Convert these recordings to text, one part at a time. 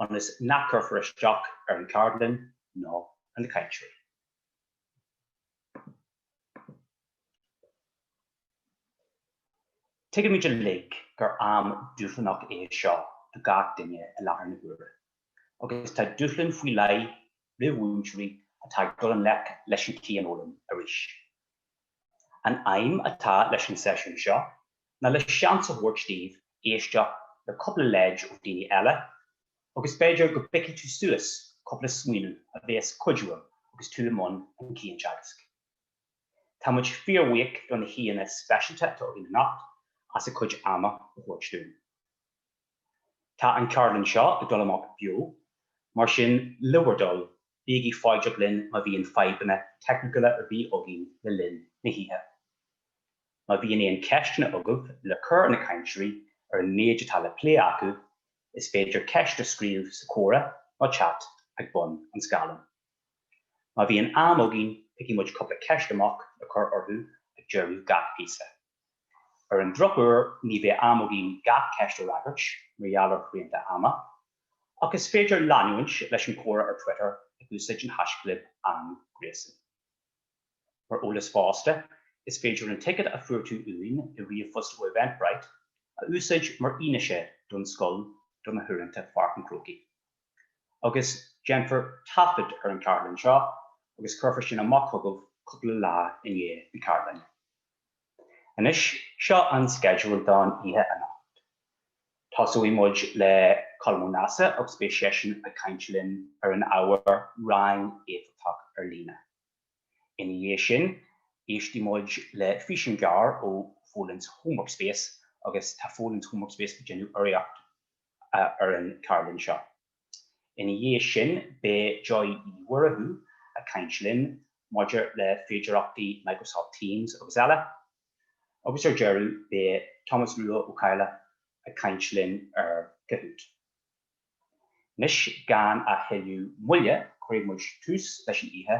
ionas nach gcuirfear isteach ar an gceardlann ná ar na cainteoirí. Tuigimid uilig gur am dúshlanach é seo do gach duine i láthair na huaire, agus tá dúshlán faoi leith roimh mhúinteoirí atá ag dul i ngleic leis an chianfhoghlaim arís. An aidhm atá leis an seisiún seo ná le seans a thabhairt daoibh éisteacht le cúpla leid ó dhaoine eile agus b'fhéidir go bpicfidh tú suas cúpla smaoineamh a bhéas cuidiúil agus tú i mbun an chianteagaisc. Tá muid fíorbhuíoch do na haíonna speisialta atá againn anocht as a gcuid ama a thabhairt dúinn. Tá an cheardlann seo ag dul amach beo, mar sin le bhur dtoil, bígí foighdeach linn má bhíonn fadhbanna teicniúla ar bith againn le linn na hoíche. Má bhíonn aon cheisteanna agaibh le cur ar na cainteoirí ar an méid atá le plé acu, is féidir ceist a scríobh sa comhrá nó chat ag bun an scáileáin. Má bhíonn am againn, picfidh muid cúpla ceist amach le cur orthu ag deireadh gach píosa. Ar an drochuair, ní bheidh am againn gach ceist a fhreagairt mar gheall ar shrianta ama, ach is féidir leanúint leis an chomhrá ar Twitter ag úsáid an haischlib AnGréasán. Mar eolas fosta, is féidir an ticéad a fuair tú uainn i ríomhphost ó Eventbrite a úsáid mar fhianaise don scoil do na huaireanta Pháirc an Chrócaigh. Agus déanfar taifead ar an gceardlann seo agus cuirfear sin amach chugaibh cúpla lá i ndiaidh na ceardlainne. Anois, seo an sceideal don oíche anocht. Tosóidh muid le Colm Ó Neasa agus beidh seisean ag caint linn ar an ábhar 'Rang Éifeachtach ar Líne'. Ina dhiaidh sin, éistfidh muid le físeán gearr ó Folens Homework Space agus tá Folens Homework Space ag déanamh urraíocht ar an cheardlann seo. Ina dhiaidh sin beidh Joy Uí Mhurchadha ag caint linn maidir le féidearthachtaí Microsoft Teams agus eile. Agus ar deireadh beidh Tomás Rua Ó Cadhla ag caint linn ar Kahoot. Anois gan a thuilleadh moille cuirfidh muid tús leis an oíche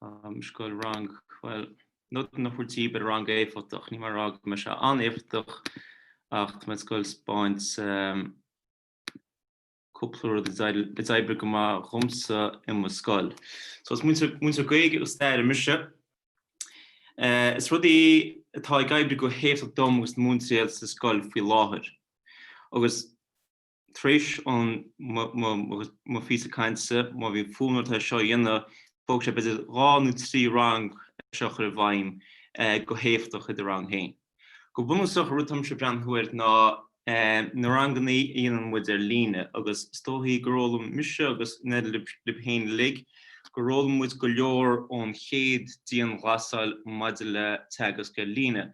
Tá mé ag goil rang, bhuel, nótaí a thabhairt daoibh ar rang éifeachtach, níl mé ag rá go mbeidh sé an-éifeachtach ach tá mé ag goil a spáint ehm, cúpla rud a d'oibrigh go maith dhomsa i mo scoil. So is múinteoir, múinteoir Gaeilge agus staire mise. Eh, is rudaí atá ag oibriú go héifeachtach dom agus na múinteoirí eile sa scoil faoi láthair. Agus tar éis an mo phíosa cainte, má bhíonn fonn ort é seo a dhéanamh, thógfadh sé b'fhéidir dhá nó trí rang é seo a chur i bhfeidhm go héifeachtach i do rang féin. Go bunúsach an rud atáimse ag breathnú air ná na ranganna a dhéanann muid ar líne agus is dóichí gur fhoghlaim mise agus in éindí libh féin uilig gur fhoghlaim muid go leor ón chéad dianghlasáil maidir le teagasc ar líne.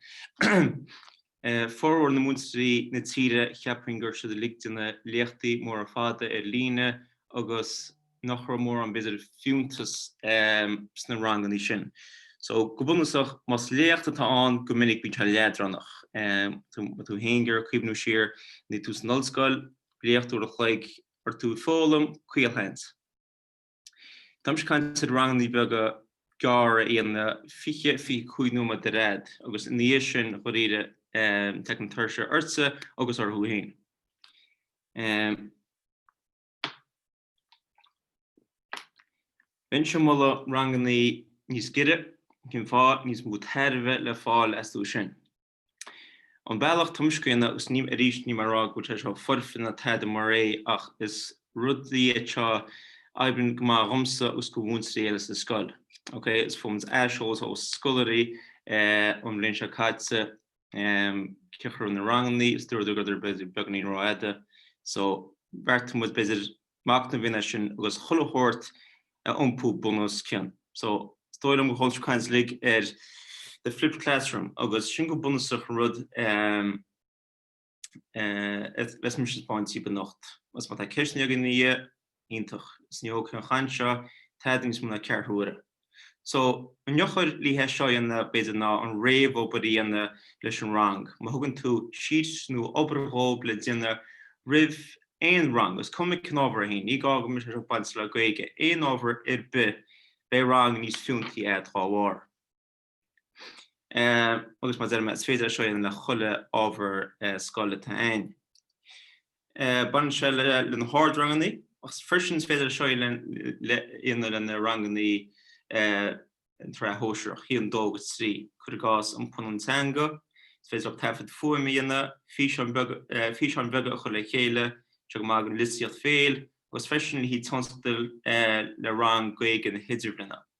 Formhór na múinteoirí na tíre cheapfainn go raibh siad uilig ag déanamh léachtaí móra fada ar líne agus nach raibh mórán b'fhéidir fiúntas sna ranganna sin. So, go bunúsach, más léacht atá ann, go minic bíonn sé leadránach. Má tá tú fhéin ag iarraidh cuimhniú siar, nuair a bhí tú san ollscoil, léacht uair an chloig, an raibh tú ag foghlaim, caolseans. Táimse ag caint ar ranganna beaga gearra a dhéanamh 20, 25 nóiméad ar fhad agus ina dhiaidh sin dháiríre tiocfaidh tuirse ortsa agus orthu féin. Bheinnse ag moladh ranganna níos giorra, cén fáth, níos mó tairbhe le fáil astu sin. An bealach atáimse á dhéanamh agus níl mé, arís, níl mé ag rá go bhfuil sé seo foirfe ná tada mar é ach is rud é seo a oibríonn go maith dhomsa agus dho mhúinteoirí eile sa scoil. Ok, is fuair mise aiseolas ó scoláirí ón bhliain seo caite cén chaoi a raibh na ranganna is dúradar go rabhadar b'fhéidir beagáinín rófhada so bheartaigh muid b'fhéidir machnamh a dhéanamh air sin agus chuile shórt a iompú bunoscionn. So, is dóigh liom gur chuala tú caint uilig ar The Flipped Classroom agus sin go bunúsach an rud a bheas mise ag taispeáint daoibh anocht. Is má tá ceisteanna agaibh ina dhiaidh, iontach. Is ní thógfaidh an chaint seo tada níos mó ná ceathrú uaire. So, an eochair le haghaidh é seo a dhéanamh, b'fhéidir, ná an réamhobair a dhéanamh leis an rang. Má thugann tú síos nó obair dhóibh le déanamh roimh aon rang, is cuma cén ábhar é fhéin, ní gá go mbeadh sé seo ag baint le Gaeilge, aon ábhar ar bith, beidh rang níos fiúntaí agat dá bharr. agus mar a deirim is féidir é seo a dhéanamh le chuile ábhar scoile atá ann. Baineann sé le na hardranganna agus freisin is féidir é seo a dhéanamh le na ranganna sa tsraith shóisearach, bliain 2 agus 3, cuir i gcás, an phunann teanga, is féidir leat taifead fuaime a dhéanamh, físeáin bheaga a chur le chéile, tá sé go maith dhon litearthacht bhéil, agus freisin le haghaidh tionscadal le rang Gaeilge na hidirbhliana.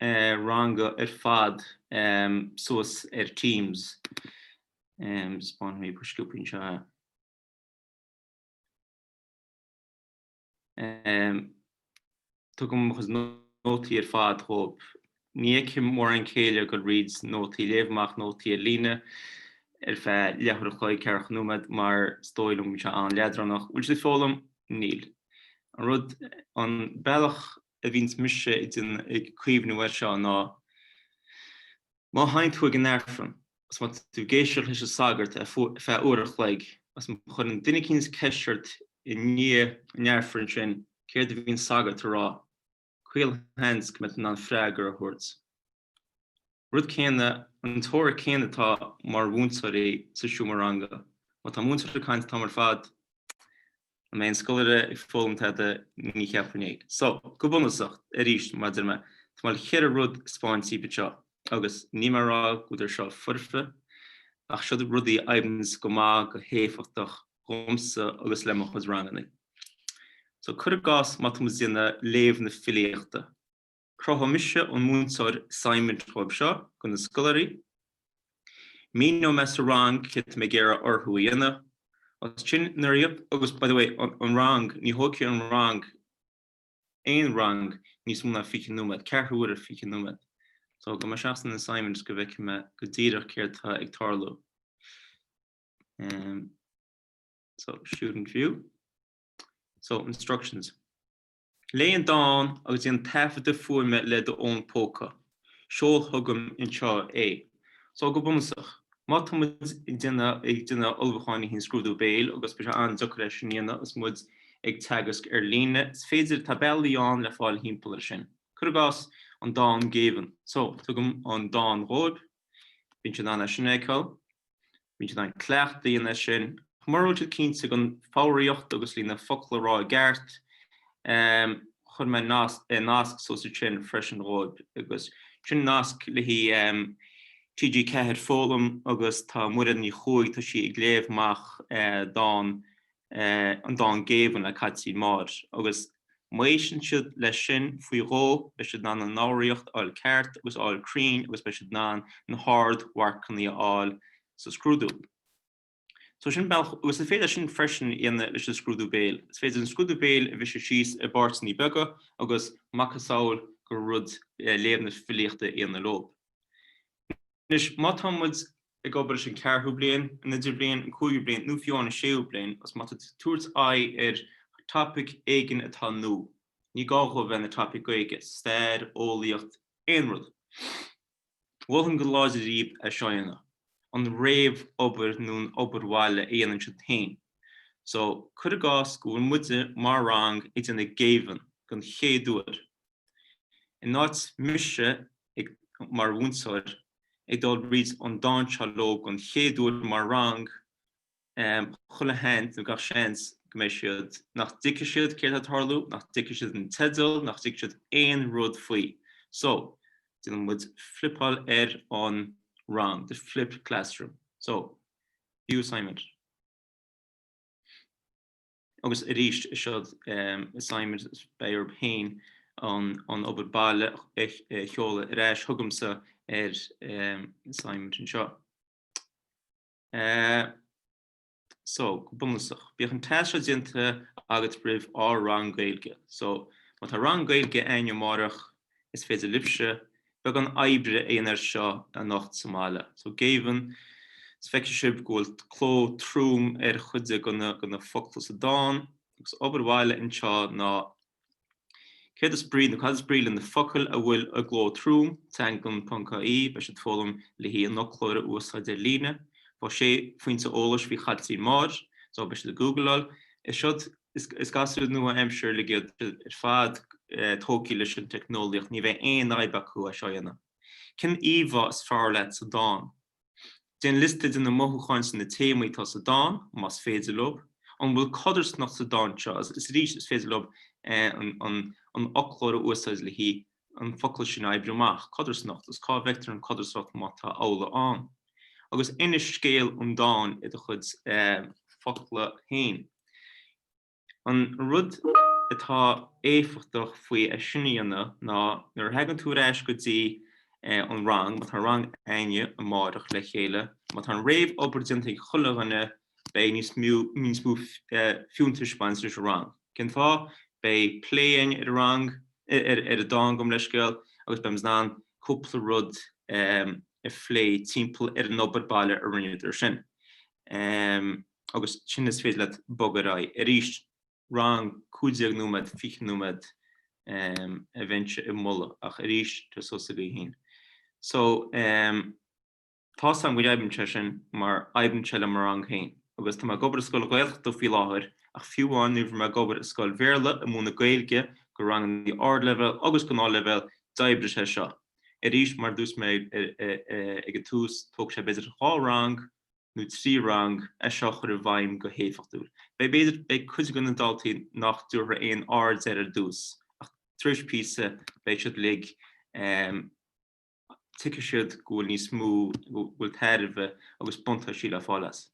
ranga ar fad suas ar Teams. Tugaim mo chuid nótaí ar fad dhób. Ní fheicim mórán céille ag dul thrí nótaí, léamh amach nótaí ar líne ar feadh leathuair an chloig, ceathracha nóiméad mar is dóigh liom go bhfuil sé an-leadránach. Bhfuil siad ag foghlaim? Níl. An rud, an bealach a bhíonns mise ag cuimhniú air seo ná, má théann tú chuig an Aifreann agus má tá tú ag éisteacht leis an sagart ar feadh uair an chloig agus má chuireann duine eicínt ceist ort i ndiaidh an Aifrinn sin céard a bhí an sagart a rá, caolseans go mbeidh tú in ann freagra a thabhairt. rud céanna, an teoiric chéanna atá mar mhúinteoirí sa seomra ranga. Má tá múinteoir ag caint an t-am ar fad, an mbeidh an scoláire ag foghlaim tada? Ní cheapfainn é. So, go bunúsach, arís, mar a deir mé, tá mé le ceithre rud a spáint daoibh anseo, agus níl mé a rá go bhfuil siad seo foirfe, ach seo rudaí a oibríonns go maith, go héifeachtach, dhomsa agus le mo chuid rangannaí. So, cur i gcás, má tá muid ag déanamh léamh na filíochta. Cruthóidh mise an múinteoir assignment dóibh seo do na scoláirí. Míneoidh mé sa rang céard atá mé ag iarraidh orthu a dhéanamh. As sin imeoidh siad, agus by the way an rang, ní thógfaidh an rang aon rang níos mó ná 20 nóiméad, ceathrú uaire, 20 nóiméad. So gabhfaidh mé isteach san assignment go bhfeicfidh mé go díreach céard atá ag tarlú. So, student view. So, instructions. Léigh an dán agus déan taifeadadh fuaime le do fhón póca. Seol agam anseo é. Só, go bunúsach, má tá muid ag déanamh ag déanamh ullmhúcháin le haghaidh an Scrúdú Béil agus beidh sé an-deacair é sin a dhéanamh agus muid ag teagasc ar líne, is féidir, tá bealaí ann le fáil thimpeall air sin. Cuir i gcás, an dán 'Géibheann'. Só, tugaim an dán dhóib. Bíonn siad in ann é sin a fheiceáil. Bíonn siad in ann cleachtadh a dhéanamh air sin. Mura bhfuil siad cinnte den fhoghraíocht agus le haghaidh na focla a rá i gceart, cuireann mé nasc suas ansin freisin dhóibh, agus sin nasc le haghaidh TG4, Foghlaim, agus tá Muireann Ní Chuaig, tá sí ag léamh amach dán an dán 'Géibheann' le Caitlín Maude agus má éisteann siad leis sin, faoi dhó, beidh siad in ann an fhoghraíocht a fháil ceart agus a fháil cruinn agus beidh siad in ann na hardmharcannaí a fháil sa scrúdú. So sin bealach, agus is féidir sin freisin a dhéanamh leis an scrúdú béil. Is féidir an scrúdú béil a bhriseadh síos i bpáirteannaí beaga agus macasamhail den rud léamh na filíochta a dhéanamh leob. Anois, má tá muid ag obair leis an ceathrú bliain, an idirbliain, an cúigiú bliain, nó fiú amháin an séú bliain, agus má tá tú ag tabhairt aghaidh ar thopaic éigin atá nua, ní gá dhó a bheith ina topaic Gaeilge, stair, eolaíocht, aon rud, mholfainn go láidir daoibh é seo a dhéanamh, an réamhobair nó an obair bhaile a dhéanann siad féin. So, cuir i gcás go bhfuil muide, mar rang, ag déanamh Géibheann, don chéad uair, In áit mise ag, mar mhúinteoir, ag dul tríd an dán seo leo don chéad uair mar rang, chuile sheans, nó gach seans, go mbeidh siad, nach dtuigfidh siad céard atá ag tarlú, nach dtuigfidh siad an teideal, nach dtuigfidh siad aon rud faoi. So, déanann muid flipáil ar an rang, the flipped classroom. So, view assignment. Agus arís, siod assignment, beidh orthub féin an obair baile a sheoladh ar ais, chugamsa ar assignment anseo. So, go bunúsach, bíodh an tasc seo déanta agat roimh ár rang Gaeilge. So, má tá rang Gaeilge againn amárach, is féidir libhse, beagán oibre aonair seo anocht sa mbaile. So Géibheann, is feicfidh sibh go bhfuil cló trom ar chuid de na focla sa dán, agus obair bhaile anseo ná céard is brí nó cad is brí le na focail a bhfuil i gcló trom, Teanglann ponc ie, beidh siad ag foghlaim le haghaidh an fhoclóir a úsáid ar líne. Faigh sé phointe eolais faoi Chaitlín Maude, so beidh siad ag googleáil. Is siod Is gasúir nua-aimseartha uilig iad ar fad, tógtha leis an teicneolaíocht, ní bheidh aon fhadhb acu é seo a dhéanamh. Cén íomhá is fearr leat sa dán? Déan liosta de na mothúcháin is na téamaí atá sa dán, más féidir leob. An bhfuil codarsnacht sa dán seo? Is arís, is féidir leob an fhoclóir a úsáid le haghaidh an focal sin a oibriú amach, codarsnacht, is cá bhfeictear an codarsnacht má tá amhlaidh ann? Agus inis scéal an dáin i do chuid focla féin. An rud atá éifeachtach faoi é sin a dhéanamh ná nuair a thagann tú ar ais go dtí an rang, má tá rang againne amárach le chéile, má tá an réamhobair déanta ag chuile dhuine, Beidh níos mó fiúntais ag baint leis an rang. Cén fáth? Beidh plé againn ar an rang, ar an dán Gabh mo leithscéal agus beidh muid in ann cúpla rud a phlé timpeall ar an obair baile a rinneadar sin. Agus ansin is féidir leat bogadh ar aghaidh. Arís, rang 15 nóiméad, 20 nóiméad a bheinnse ag moladh ach arís, tá sé suas agaibh féin. So. Tá's agam go n-oibríonn sé sin mar oibríonn sé le mo rang féin agus tá mé ag obair i scoil Ghaeltachta faoi láthair ach fiú amháin nuair bhí mé ag obair i scoil Bhéarla ag múineadh Gaeilge go rangannaí ardleibhéal agus gnáthleibhéal d'oibrigh sé seo. Arís mar dúirt mé ag an tús tógfaidh sé b'fhéidir dhá rang nó trí rang é seo a chur i bhfeidhm go héifeachtúil. Beidh b'fhéidir beidh cuid de na daltaí nach dtabharfaidh aon aird air ar dtús ach tar éis píosa beidh siad uilig tuigfidh siad go bhfuil níos mó, go bhfuil tairbhe agus buntáistí le fáil as.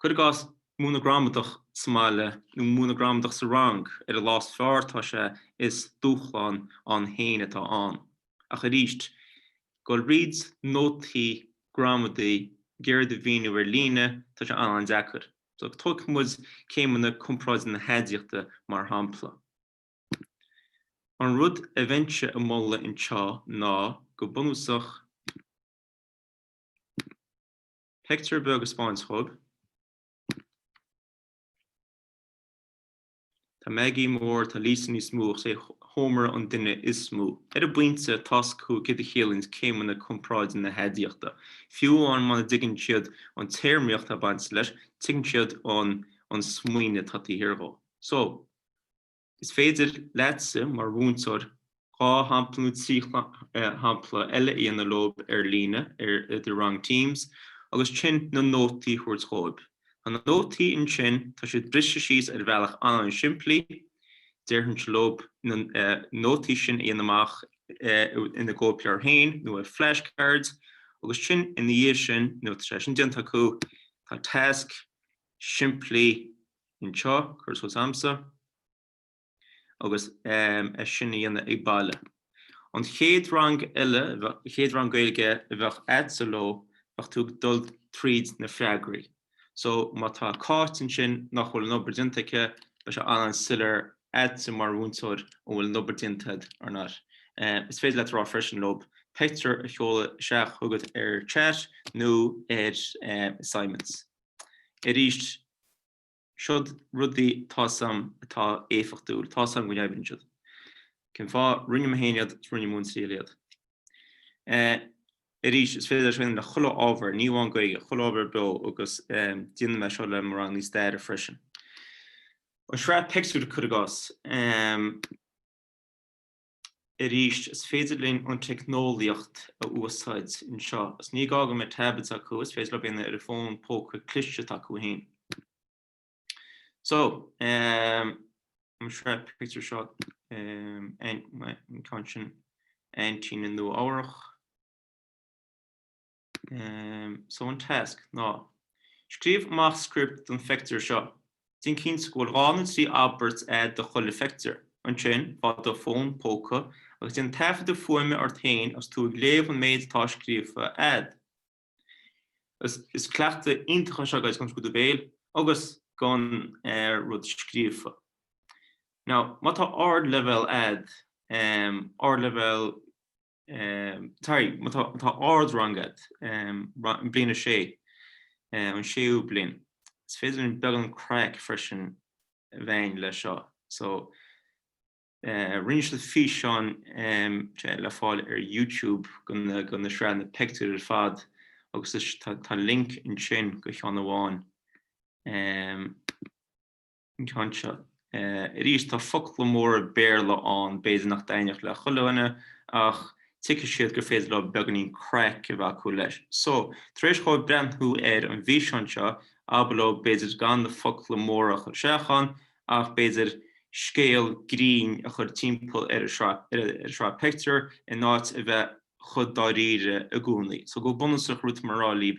Cuir i gcás, múineadh gramadach sa mbaile nó múineadh gramadach sa rang ar an lá is fearr, tá sé, is dúshlán ann féin atá ann. Ach arís, goil thríd nótaí gramadaí ag iarraidh iad a mhíniú ar líne, tá sé an-an-deacair. So tógfaidh muid céimeanna comparáide na haidiachta mar shampla. An rud a bheinnse a mholadh anseo ná go bunúsach pictiúr beag a speáint dhóibh. Tá Maggie mór, tá Lisa níos mó ach is é Homer an duine is mó. Ar an bpointe tá's acu céard a chiallaíonns céimeanna comparáide na haidiachta. Fiú amháin muna dtuigeann siad an téarmaíocht atá bainte leis, tuigeann siad an smaoineamh atá taobh thiar dhó. So, Is féidir leatsa, mar mhúinteoir, dhá shampla nó trí shampla eile a dhéanamh leob ar líne ar do rang Teams agus ansin na nótaí a thabhairt dhóibh. Tá na nótaí ansin, tá siad briste síos ar bhealach an-simplí, déarfainnse leob na nótaí sin a dhéanamh amach ina gcóipleabhair féin nó ar flashcards agus ansin ina dhiaidh sin, nuair atá sé sin déanta acu, tá tasc simplí anseo, curtha suas a'msa agus é sin a dhéanamh ag baile. An chéad rang eile, chéad rang Gaeilge a bheadh a'dsa leo, bheadh tú ag dul tríd na freagraí. So má tá Cáit ansin nach bhfuil an obair déanta aici, beidh sé an-an-soiléir a'dsa mar mhúinteoir an bhfuil an obair déanta a'd or not. Is féidir leat a rá freisin leob peictiúr a sheoladh isteach chugat ar chat nó ar assignments. Arís, siod rudaí tá's a'm atá éifeachtúil, tá's a'm go n-oibríonn siad. Cén fáth? Rinne mé féin iad, is rinne mé triail iad. Arís, is féidir iad a úsáid le chuile ábhar, ní amháin Gaeilge, chuile ábhar beo agus déanann mé seo le mo rangannaí staire freisin. An sraith pictiúr cuir i gcás. arís, is féidir linn an teicneolaíocht a úsáid anseo. Is ní gá go mbeidh tablets acu, is féidir leo breathnú ar a bhfón póca cliste s'acu féin. So, ehm, an sraith pictiúr seo, ehm, an ceann sin, Aintín i Nua-Eabhrac. So an tasc ná, Scríobh amach script don phictiúr seo. Déan cinnte go bhfuil dhá nó trí abairt a'd do chuile phictiúr. Ansin, faigh do fón póca agus déan taifeadadh fuaime ort féin agus tú ag léamh an méid atá scríofa a'd. Is cleachtadh iontach é seo, guys, don scrúdú béil agus don rud scríofa. Now, má tá ardleibhéal a'd, ardleibhéal Sorry, má tá ardrang a'd, Bliain a 6, an séú bliain. Is féidir linn beagán craic freisin a bheith a'inn leis seo. So, rinne siad físeán le fáil ar YouTube do na sraitheanna pictiúr ar fad agus tá link ansin do cheann amháin. anseo. Arís, tá focla móra Béarla ann, b'fhéidir nach dtaitneodh le chuile dhuine, ach tuigfidh siad gur féidir leo beagáinín craic a bheith acu leis. So, tar éis dhóibh breathnú ar an bhfíseán seo, abair leo, b'fhéidir, gan na focla móra a chur isteach ann, ach b'fhéidir scéal grinn a chur timpeall ar an sraith pictiúr, in áit a bheith chomh dáiríre i gcónaí. So, go bunúsach, rud atá mé a rá libh,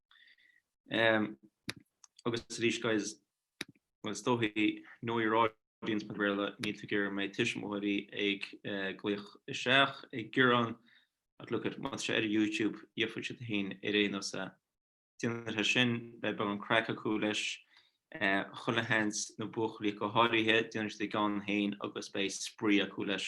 Agus arís, guys, bhuel, is dóichí, know your audience mar Bhéarla, níl tú ag iarraidh go mbeidh tuismitheoirí ag glaoch isteach ag gearán, ach look it, má tá sé ar YouTube, gheobhadh siad é féin ar aon nós. Déan é sin, beidh beagán craic acu leis, chuile sheans na buachaillí go háirithe, déanann siad a gceann féin agus beidh spraoi acu leis.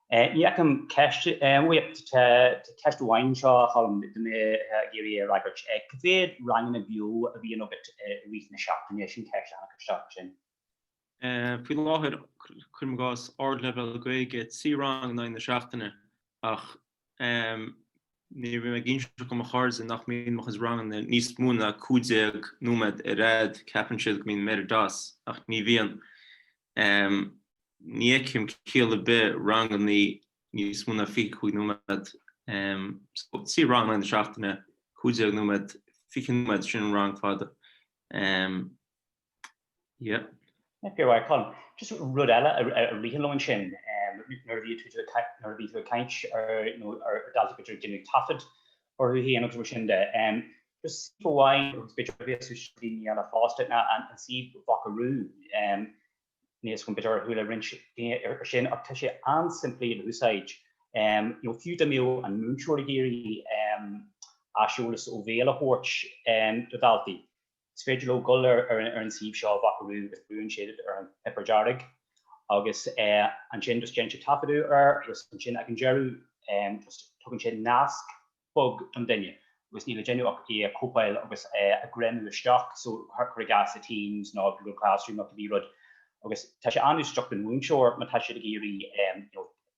Ní fheicim ceist, tá ceist amháin anseo a Cholm go mbeidh mé ag iarraidh é a fhreagairt. Cé mhéad ranganna beo a bhíonn agat i rith na seachtaine? Sin ceist a tháinig isteach ansin. Faoi láthair, cuirim i gcás, Ardleibhéal Gaeilge, trí rang in aghaidh na seachtaine ach. Nuair a bhím ag inseacht do mo chairde nach mbíonn mo chuid ranganna níos mó ná 15 nóiméad ar fhad, ceapann siad go mbíonn mé ar an doss, ach ní bhíonn. Ní fheicim ciall ar bith ranganna níos mó ná 25 nóiméad. Só, trí rang in aghaidh na seachtaine, 15 nóiméad, 20 nóiméad, sin an rang fada. Yeah. A Cholm, just rud eile a ritheann liom ansin, nuair a bhíonn tú ag caint, nuair a bhíonn tú ag caint ar daltaí b'fhéidir ag déanamh taifead orthu féin agus mar sin de, just suíomh amháin agus b'fhéidir a bheas suas daoine eile fosta, ná an suíomh Vocaroo, níl fhios agam b'fhéidir gur chuala roinnt daoine ar sin, ach tá sé an-simplí le húsáid. You know, fiú dá mbeadh an múinteoir ag iarraidh aiseolas ó bhéal a thabhairt do dhaltaí, Is féidir leo dul ar an suíomh seo, Vocaroo, agus brúnn siad ar an chnaipe dearg agus ansin just déanann siad taifeadadh air agus ansin ag an deireadh just tugann siad nasc beag don duine agus níl le déanamh ach é a chóipeáil agus é a ghreamú isteach so cur i gcás i Teams nó Google Classroom nó cibé rud agus tá sé an-úsáideach don mhúinteoir má tá siad ag iarraidh you know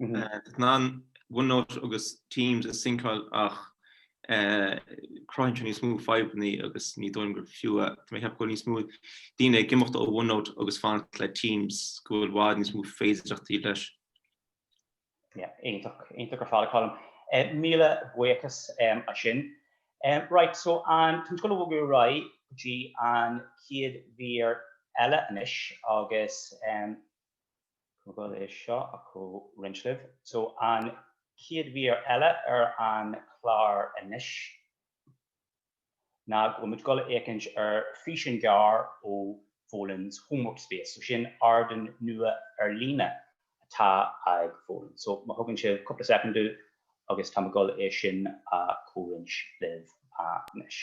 in ann OneNote agus Teams a shinceáil ach cruthaíonn sé níos mó fadhbanna agus ní dóigh liom gur fiú é. Tá mé ag ceapadh go bhfuil níos mó daoine ag imeacht ó OneNote agus fanacht le Teams, go bhfuil i bhfad níos mó féidearthachtaí leis. Yeah, iontach, iontach ar fad, a Colm. Míle buíochas as sin. Right, so tá muid ag dul a bhogadh ar aghaidh go dtí an chéad mhír eile anois agus Táim ag dul é seo a chomhroinnt libh. So an chéad mhír eile ar an chlár anois ná go bhfuil muid ag dul a fhéachaint ar físeán gearr ó Folens Homework Space. So sin ardan nua ar líne atá ag Folens. So má thugann sibh cúpla soicind domh agus táim ag dul é sin a chomhroinnt libh anois.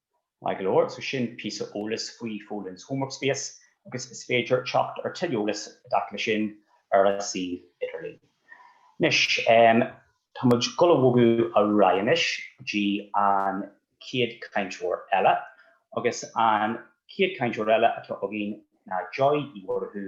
Maith go leor so sin píosa eolais faoi Folens Homework Space agus is féidir teacht ar tuilleadh eolais i dtaca le sin ar a suíomh idirlín. Anois, tá muid ag dul a bhogadh ar aghaidh anois go dtí an chéad chainteoir eile agus an chéad chainteoir eile atá againn ná Joy Uí Mhurchú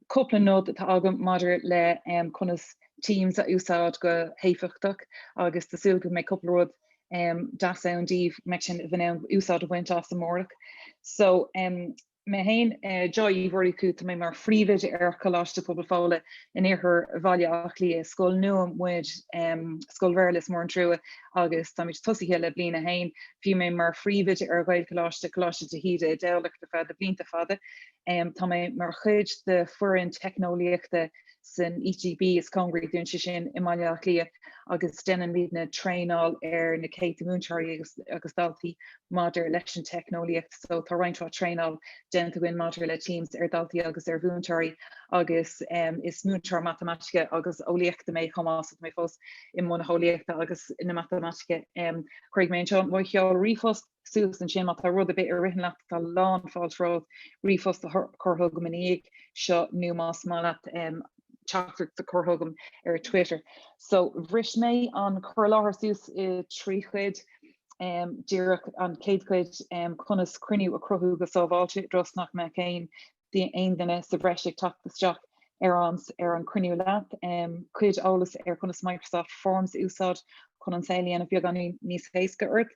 cúpla nod atá agam maidir le conas Teams a úsáid go héifeachtach agus tá súil agam go mbeidh cúpla rud deas ann daoibh go mbeidh sibh in ann úsáid a bhaint as amárach. So mé féin Joy Uí Mhurchú, tá mé mar phríomhoide ar Choláiste Pobail Fóla in iarthar Bhaile Átha Cliath. Is scoil nua muid, scoil Bhéarla, is mór an trua agus táimid tosaithe le bliain a haon. Bhí mé mar phríomhoide ar Ghaelcholáiste Coláiste de hÍde i dTamhlacht ar feadh na blianta fada. Tá mé mar chuid de foireann teicneolaíochta san ETB is cóngaraí dúinn, sé sin i mBaile Átha Cliath, agus déanann muidne traenáil ar na céadta múinteoirí agus daltaí maidir leis an teicneolaíocht. So tá roinnt mhaith traenáil déanta againn maidir le Teams ar dhaltaí agus ar mhúinteoirí agus is múinteoir matamaitice agus eolaíochta mé chomh maith, so tá mé fós i mbun na heolaíochta agus na matamaitice. Cuirfidh mé anseo mo sheoladh ríomhphost. suas ansin má tá rud ar bith a ritheann leat, tá lán fáilte romhat ríomhphost a chur chugam ina dhiaidh seo nó más maith leat teachtaireacht a chur chugam ar Twitter. So bhris mé an cur i láthair suas i dtrí chuid, díreach an chéad chuid, conas cruinniú a chruthú go sábháilte i dtreo is nach mbeadh aon aon duine sa bhreis ag teacht isteach ar ar an cruinniú leat. cuid eolas ar conas Microsoft Forms a úsáid chun an saol a dhéanamh beagáinín níos éasca ort.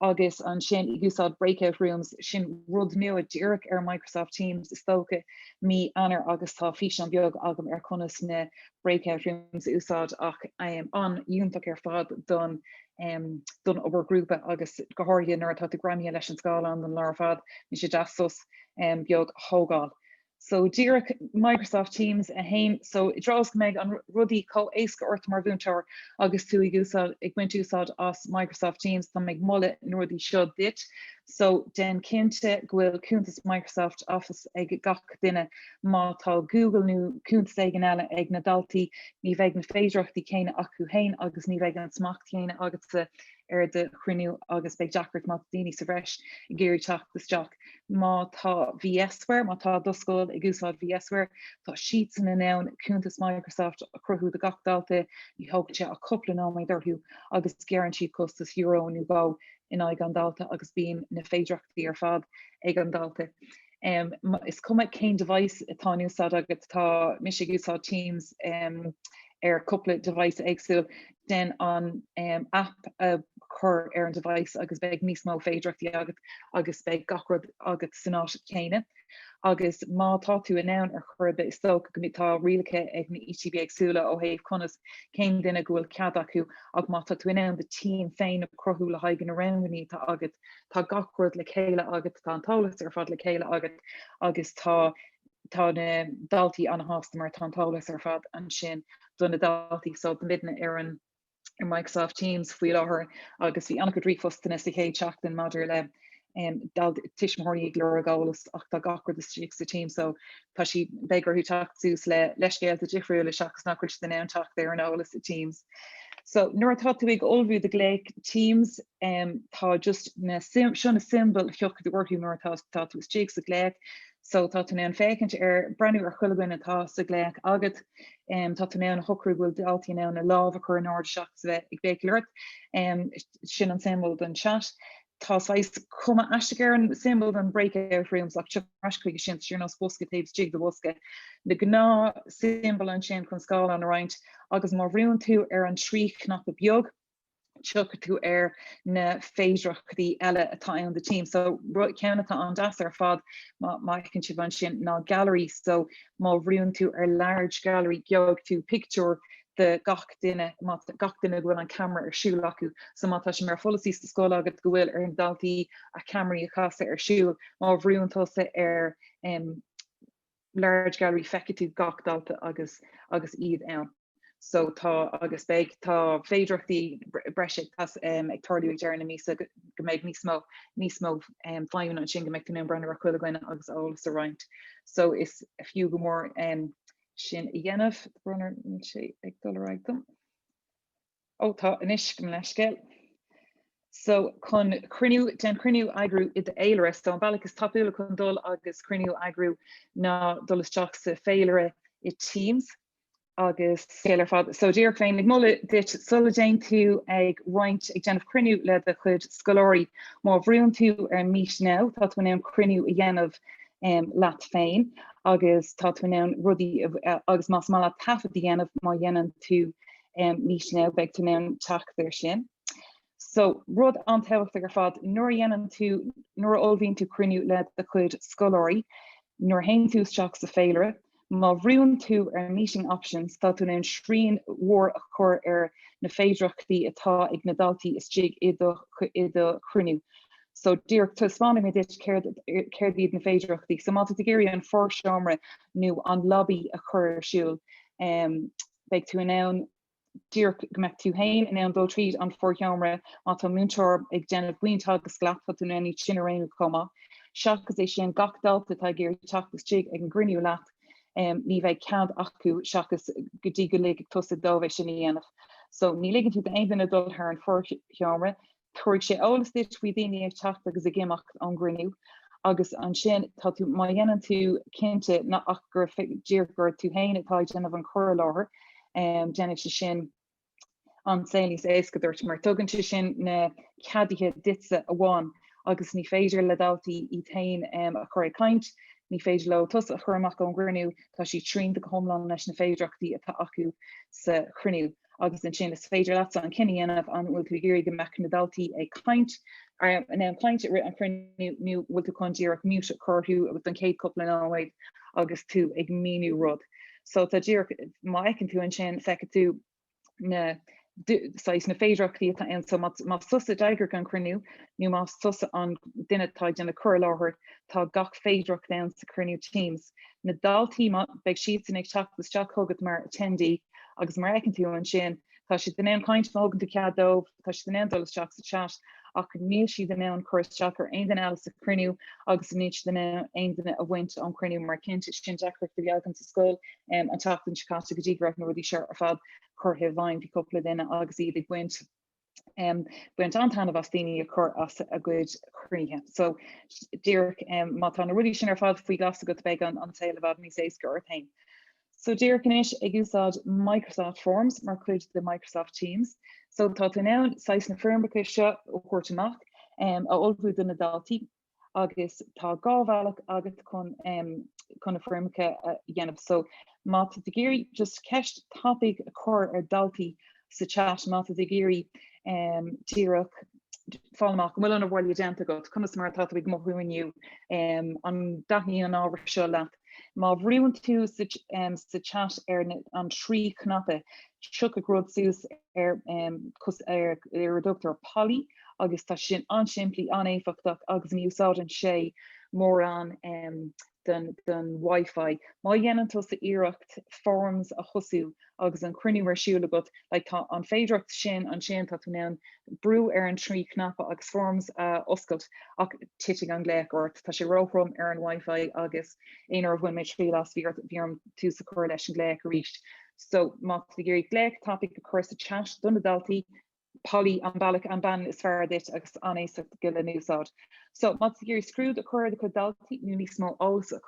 Agus ansin ag úsáid breakout rooms, sin rud nua díreach ar Microsoft Teams is dócha, mí Eanáir agus tá físeán beag agam ar conas na breakout rooms a úsáid ach an-fhiúntach ar fad don don obair ghrúpa agus go háirithe nuair atá tú greamaithe leis an scáileán don lá ar fad. Bíonn sé deas sos. beag a thógáil. So díreach Microsoft Teams 1, so i dtreo is go mbeidh an rudaí chomh éasca ort mar mhúinteoir agus tú ag úsáid ag baint úsáid as Microsoft Teams, tá mé ag moladh na rudaí seo duit. So déan cinnte go bhfuil cuntas Microsoft Office ag gach duine. Má tá Google nó cuntas éigin eile ag na daltaí, ní bheidh na féidireachtaí céanna acu, a haon, agus ní bheidh an smacht chéanna agatsa ar do chruinniú agus beidh deacracht má tá daoine sa bhreis ag iarraidh teacht isteach. Má tá VSware, má tá do scoil ag úsáid VSware, tá siadsan in ann cuntas Microsoft a chruthú do gach dalta, ní thógann sé ach cúpla nóiméad orthu agus gearrann siad costas euro nó dhó in aghaidh an dalta agus bíonn na féidireachtaí ar fad ag an dalta. Is cuma cén device atá in úsáid agat, tá mise ag úsáid Teams ar cúpla device éagsúil, déan an aip a chur ar an device agus beidh níos mó féidireachtaí agat agus beidh gach rud agat san áit chéanna. Agus má tá tú in ann ar chor ar bith is dócha go tá rialacha ag na ETB éagsúla ó thaobh conas cén duine go bhfuil cead acu ach má tá tú in ann do team féin a cruthú le haghaidh na rangannaí atá agat tá gach rud le chéile agat, tá an t-eolas ar fad le chéile agat agus tá Tá na daltaí an-shásta mar tá an t-eolas ar fad ansin do na daltaí. So tá muidne ar an Microsoft Teams faoi láthair agus bhí an-chuid ríomhphostanna sa chéad seachtain maidir le tuismitheoirí ag lorg eolas ach tá gach rud istigh sa Teams so tá siad, beidh orthu teacht suas le leithscéalta difriúla seachas nach bhfuil siad in ann teacht ar an eolas sa Teams. So nuair atá tú ag ullmhú do ghlaoch Teams tá just seo na symbol a thiocfaidh orthu nuair atá tú istigh sa ghlaoch. So tá tú in ann féachaint ar, breathnú ar chuile dhuine againn atá sa ghlaoch agat. Tá tú in ann a shocrú go bhfuil daltaí in ann a lámh a chur in airde seachas a bheith ag béicíl ort. Sin an symbol don chat. Tá saghas cuma aisteach ar an symbol don breakout rooms ach tiocfaimid ar ais chuige sin, sórt ar nós bosca taobh istigh de bosca. Na gnáth symbol ansin chun scáileán a roinnt agus má bhrúnn tú ar an trí cnaipe beag, tiocfaidh tú ar na féidearthachtaí eile atá ann do Teams. So, ceann atá an-deas ar fad, má fheiceann sibh ansin, ná Gallery. So, má bhrúnn tú ar Large Gallery, gheobhaidh tú pictiúr de gach duine, gach duine a bhfuil an ceamara ar siúl acu. So, má tá sé mar pholasaí sa scoil agat go bhfuil ar na daltaí a ceamaraí a chasadh ar siúl, má bhrúnn tusa ar, large gallery feicfidh tú gach dalta agus agus iad ann so tá agus beidh tá féidearthachtaí breise ag tarlú ag deireadh na míosa go mbeidh níos mó níos mó feidhme ansin go mbeidh tú in ann breathnú ar chuile dhuine agus eolas a roinnt so is fiú go mór sin a dhéanamh. Tá brón orm, níl sé ag dul ar aghaidh dom. Ó tá anois, gabh mo leithscéal. So chun cruinniú, chun cruinniú a eagrú i d'fhéilire. So an bealach is tapúla chun dul agus cruinniú a eagrú ná dul isteach sa féilire i Teams an-éasca ar fad. So díreach bheinn ag moladh duit sula dtéann tú ag roinnt ag déanamh cruinniú le do chuid scoláirí. Má bhrúnn tú ar Meet Now, tá tú in ann cruinniú a dhéanamh um, leat féin agus tá tú in ann rudaí agus más maith leat taifead a dhéanamh má dhéanann tú Um, Meet Now, beidh tú in ann teacht ar sin. So, rud an-tábhachtach ar fad, nuair a dhéanann tú, nuair a ullmhaíonn tú cruinniú le do chuid scoláirí, nuair a théann tú isteach sa féilire, má bhrúnn tú ar Meeting Options, tá tú in ann srian mhór a chur ar na féidearthachtaí atá ag na daltaí istigh i do, i do chruinniú. So, díreach, taispeánfaidh mé duit céard, céard iad na féidearthachtaí. So, má tá tú ag iarraidh an forseomra nó an lobby a chur ar siúl, um, beidh tú in ann díreach go mbeidh tú féin in ann dul tríd an forsheomra má tá múinteoir ag déanamh múinteoireacht leat tá tú in ann iad sin a roghnú chomh maith. Seachas é sin, gach dalta atá ag iarraidh teacht isteach ag an gcruinniú leat, ní bheidh cead acu seachas go dtí go ligfidh tusa dóibh é sin a dhéanamh. So, ní ligeann tú d'aon duine dul thar an forsheomra, Tabharfaidh sé eolas duit faoi daoine ag teacht agus ag imeacht ón gcruinniú agus ansin tá tú, má dhéanann tú cinnte ach gur díreach gur tú féin atá ag déanamh an chur i láthair, déanfaidh sé sin an saol níos éasca duit mar tugann sé sin na ceaduithe duitse amháin agus ní féidir le daltaí iad féin a chur ag caint, ní féidir leo tusa a chur amach ón gcruinniú, tá siad srianta go hiomlán leis na féidearthachtaí atá acu sa chruinniú. agus ansin is féidir leatsa an cinneadh a dhéanamh an bhfuil tú ag iarraidh go mbeadh na daltaí ag caint, an é an chaint i rith an chruinniú nó an bhfuil tú chun díreach mute a chur orthu agus don chéad cupla nóiméad agus tú ag míniú rud. So tá díreach, má fheiceann tú ansin, feicfidh tú na saghas na féidearthachtaí atá ann. So más tusa a d'eagraigh an cruinniú nó más tusa an duine atá ag déanamh cur i láthair, tá gach féidearthacht ann sa chruinniú Teams. Na daltaí, má, beidh siadsan ag teacht isteach chugat mar attendee agus mar a fheiceann tú ansin, tá siad in ann caint, má thugann tú cead dóibh, tá siad in ann dul isteach sa chat ach níl siad in ann cur isteach ar aon duine eile sa chruinniú agus níl siad in ann aon duine a bhaint ón chruinniú mar cinnte sin deacracht a bhí againn sa scoil um, an tseachtain seo caite go dtí go raibh na rudaí seo ar fad curtha i bhfeidhm, bhí cúpla duine agus iad ag baint Baint an-taitneamh as daoine a chur as a gcuid cruinnithe. So, díreach má tá na rudaí sin ar fad faoi ghlas agat beidh an saol i bhfad níos éasca ort féin. So, díreach anois ag úsáid Microsoft Forms mar chuid de Microsoft Teams. So, tá tú in ann saghas na foirmeacha seo a thabhairt amach, a ullmhú do na daltaí. agus tá dhá bhealach agat chun chun na foirmeacha a dhéanamh so má tú ag iarraidh just ceist tapaidh a chur ar daltaí sa chat má tú ag iarraidh díreach fáil amach an bhfuil an obair bhaile déanta agat conas mar atá tú ag mothú inniu an dtaitníonn an ábhar seo leat má bhrúnn tú sa chat ar an trí chnaipe tiocfaidh rud suas ar ar ar a dtugtar Polly agus tá sin an-simplí, an-éifeachtach agus ní úsáideann sé mórán den Wi-Fi. Má dhéanann tusa iarracht Forms a thosú agus an cruinniú ar siúl agat, like, tá an féidearthacht sin ansin, tá tú in ann brú ar an trí cnaipe agus Forms a oscailt, ach titfidh an glaoch ort. Tá sé róthrom ar an Wi-Fi agus aon uair a bhain mé triail as, bhí ort, bhí orm tús a chur leis an glaoch arís. So, má tú ag iarraidh ceist tapaidh a chur sa chat do na daltaí, Polly, An bealach, an ceann is fearr duit agus an-éasca go leor le n-úsáid. So, má tú ag iarraidh scrúdú a chur ar do chuid daltaí, nó níos mó eolas a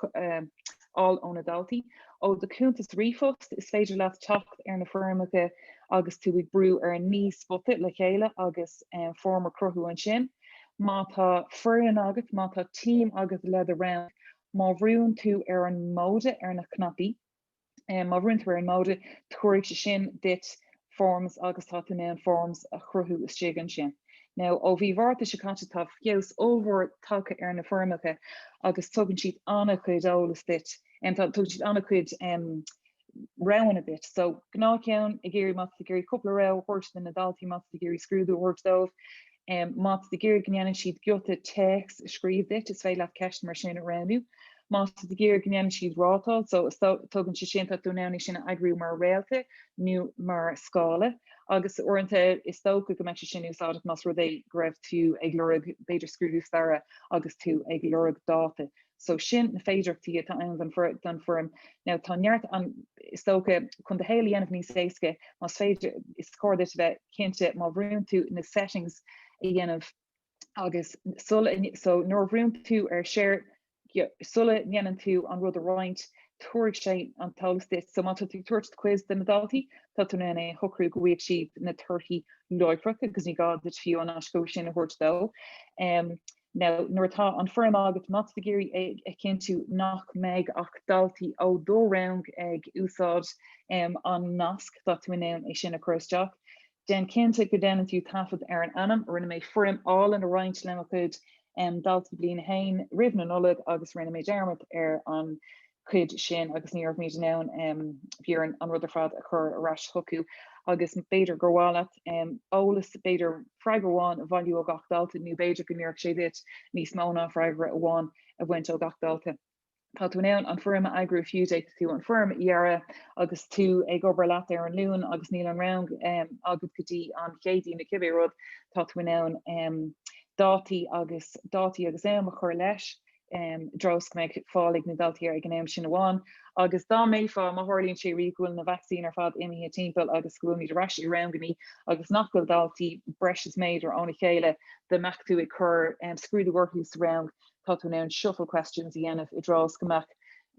fháil ó na daltaí, ó do chuntas ríomhphost, is féidir leat teacht ar na foirmeacha agus tú ag brú ar an naoi spota le chéile agus foirm a chruthú ansin. Má tá foireann agat, má tá team agat le do rang, má bhrúnn tú ar an móide ar na cnaipí, Má bhrúnn tú ar an móide, tabharfaidh sé sin duit Forms agus tá tú in ann Forms a chruthú istigh ansin. Now, ó mhí Mhárta seo caite, tá feabhas ollmhór tagtha ar na foirmeacha agus tugann siad an-chuid eolas duit, tugann siad an-chuid roghanna duit. So, gnáthcheann, ag iarraidh, má tá tú ag iarraidh cúpla rogha a thabhairt do na daltaí, má tá tú ag iarraidh scrúdú a thabhairt dóibh, Má tá tú ag iarraidh go ndéanfaidh siad giota téacs a scríobh duit, is féidir leat ceist mar sin a roghnú. Má tá tú ag iarraidh go ndéanfaidh siad rátáil, so tugann sé seo, tá tú in ann é sin a eagrú mar réalta nó mar scála, agus uaireanta is dócha go mbeidh sé sin úsáideach más rud é go raibh tú ag lorg, b'fhéidir, scrúdú staire agus tú ag lorg dáta so sin na féidearthachtaí atá ann don foirm. Now tá neart ann is dócha chun do shaol a dhéanamh níos éasca, más féidir is cóir duit a bheith cinnte má bhrúnn tú na settings a dhéanamh agus sula, so nuair a bhrúnn tú ar share, sula ndéanann tú an rud a roinnt tabharfaidh sé an t-eolas duit, so má tá tú ag tabhairt quiz do na daltaí tá tú in ann é a shocrú go bhfaighidh siad na torthaí láithreach agus ní gá duit fiú an aiscothú sin a thabhairt dó. Now, nuair atá an fhoirm agat, má tá tú ag iarraidh a chinntiú nach mbeidh ach daltaí ó do rang ag úsáid an nasc, tá tú in ann é sin a chur isteach. Déan cinnte go déanann tú taifead ar an ainm. Rinne mé foirm álainn a roinnt le mo chuid daltaí Bliain 1 roimh na Nollag agus rinne mé dearmad ar an chuid sin agus ní raibh mé in ann, bhí orm an rud ar fad a chur ar ais chucu agus b'fhéidir gur mhaith leat eolas, b'fhéidir freagra amháin a bhailiú ó gach dalta nó b'fhéidir go n-oirfeadh sé duit níos mó ná freagra amháin a bhaint ó gach dalta. Tá tú in ann an fhoirm a eagrú fiú, d'fhéadfadh tú an fhoirm a dhearadh agus tú ag obair leat ar an Luan agus níl an rang agat go dtí an Chéadaoin nó cibé rud, tá tú in ann dátaí agus dátaí agus am a chur leis. I dtreo is go mbeidh fáil ag na daltaí air ag an am sin amháin agus dá mbeifeá, má tharlaíonn sé riamh go bhfuil na vacsaíní ar fad imithe timpeall agus go bhfuilmid ar ais i rangannaí agus nach bhfuil daltaí breis is méadar óna chéile, dá mbeadh tú ag cur scrúdú orthu sa rang, tá tú in ann shuffle questions a dhéanamh i dtreo is go mbeadh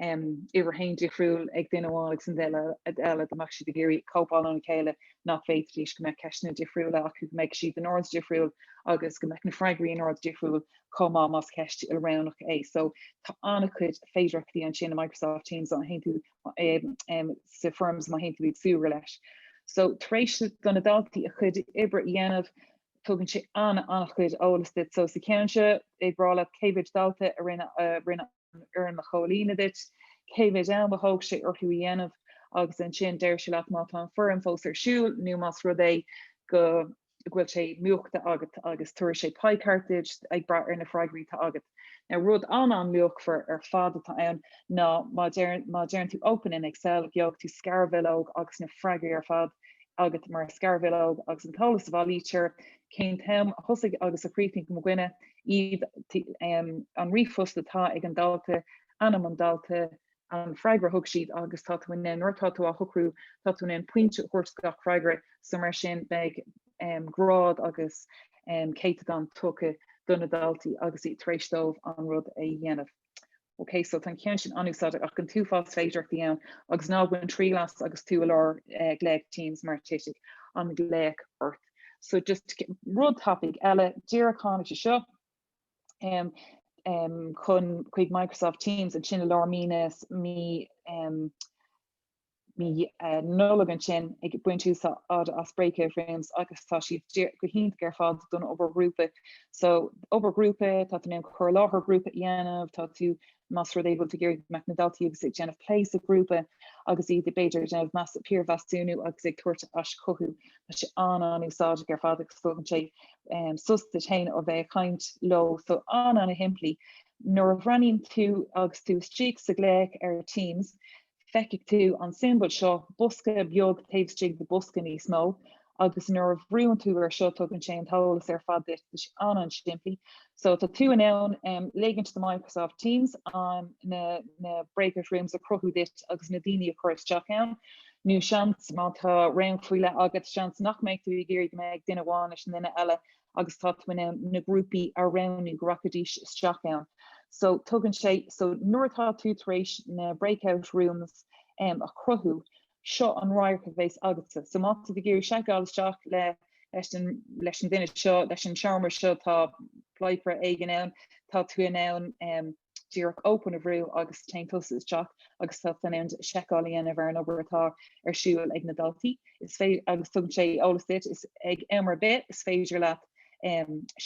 uimhir a haon difriúil ag duine amháin ag an duine eile, dá mbeadh siad ag iarraidh cóipeáil óna chéile, nach bhféadfaidís, go mbeadh ceisteanna difriúla acu, go mbeidh siad in ord difriúil agus go mbeadh na freagraí in ord difriúil chomh maith más ceist ilroghnach é. So tá an-chuid féidearthachtaí ansin i Microsoft Teams má théann tú sa Forms má théann tú ag súgradh leis. So tar éis do na daltaí a chuid oibre a dhéanamh tugann sé an-chuid eolais duit. So sa cheann seo ag brath leat cé mhéid dalta a rinne fhoirm a chomhlíonadh duit, cé mhéid am a thóg sé orthu a dhéanamh agus ansin deir sé leat má tá an foirm fós ar siúl nó más rud é go bhfuil sé múchta agat agus tabharfaidh sé pie chart duit ag brath ar na freagraí atá agat. Now rud an-luachmhar ar fad atá ann ná má deireann tú open in Excel gheobhaidh tú scarbhileog agus na freagraí ar fad agat mar scarbhileog agus an t-eolas a bhailítear, cén t-am a thosaigh agus a chríochnaigh mo dhuine, iad an ríomhphost atá ag an dalta, ainm an dalta, an freagra a thug siad agus tá tú in ann, nuair atá tú á shocrú, tá tú in ann pointe a thabhairt do gach freagra. So mar sin beidh grád agus céatadán tugtha do na daltaí agus iad tar éis dóibh an rud a dhéanamh. Ok, so tá an ceann sin an-úsáideach ach an t-uafás féidearthachtaí ann agus ná bain triail as agus tú i lár glaoch Teams mar titfidh an glaoch ort. So just rud tapaidh eile díreach a tháinig sé seo chun chuig Microsoft Teams ansin i lár mí na, mí, mí Nollag ansin ag baint úsáide as Breakout Rooms agus tá siad go hiontach ar fad don obair ghrúpa. So, obair ghrúpa, tá tú in ann cur i láthair ghrúpa a dhéanamh, tá tú, más rud é bhfuil tú ag iarraidh go mbeadh na daltaí agus ag déanamh plé sa ghrúpa agus iad b'fhéidir ag déanamh piarmheasúnú agus ag tabhairt aischothú, tá sé an-an-úsáideach ar fad agus tugann sé sos duit féin ó bheith ag caint leo. So, an-an-shimplí. Nuair a bhreathnaíonn tú agus tú istigh sa ghlaoch ar Teams, Feicfidh tú an siombail seo, bosca beag taobh istigh de bhosca níos mó, agus nuair a bhrúnn tú ar seo tugann sé an t-eolas ar fad duit. Tá sé an-an simplí. So tá tú in ann um, ligint do Microsoft Teams an na, na breakout rooms a chruthú duit agus na daoine a chur isteach ann. Nó seans má tá rang faoi leith agat seans nach mbeidh tú ag iarraidh go mbeadh duine amháin leis an duine eile agus tá tú in ann na grúpaí a roghnú go rachaidís isteach ann. So tugann sé, so nuair atá tú tar éis na breakout rooms a chruthú, seo an radharc a bheas agatsa. So má tá tú ag iarraidh seiceáil isteach le, leis an, leis an duine seo, leis an seomra seo, tá plé páipéir éigin ann, tá tú in ann, díreach open a bhrú agus téann tusa isteach agus tá tú in ann seiceáil a dhéanamh ar an obair atá ar siúl ag na daltaí is féidir agus tugann sé eolas duit is ag am ar bith is féidir leat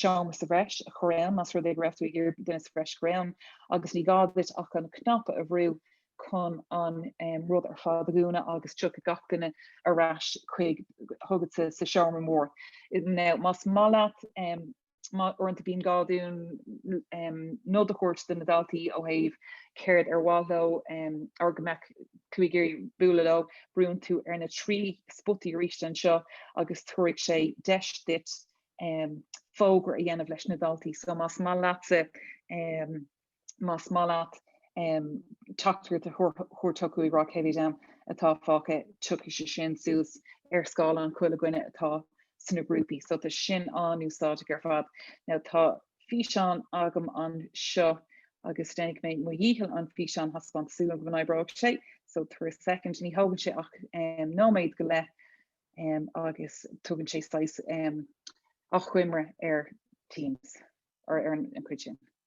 seomra sa bhreis a chur ann más rud é go raibh tú ag iarraidh duine sa bhreis a chur ann agus ní gá duit ach an cnaipe a bhrú chun an rud ar fad a dhúnadh agus tiocfaidh gach duine ar ais chuig chugatsa sa seomra mór. Now más maith leat Uaireanta bíonn gá dúinn nod a thabhairt do na daltaí ó thaobh céard ar mhaith leo ar go mbeadh tú ag iarraidh bualadh leo. Brúnn tú ar na trí spotaí arís anseo agus tabharfaidh sé deis duit fógra a dhéanamh leis na daltaí. So más maith leatsa más maith leat teachtaireacht a thabhairt chucu ag rá cé mhéid am atá fágtha, tiocfaidh sé sin suas ar scáileán chuile dhuine atá sna grúpaí. So tá sin an-úsáideach ar fad. Now tá físeán agam anseo agus déanfaidh mé mo dhícheall an físeán a thaispeáint, súil agam go n-oibreoidh sé, so tabhair second. Ní thógann sé ach nóiméad go leith agus tugann sé saghas achoimre ar Teams, ar an gcuid sin.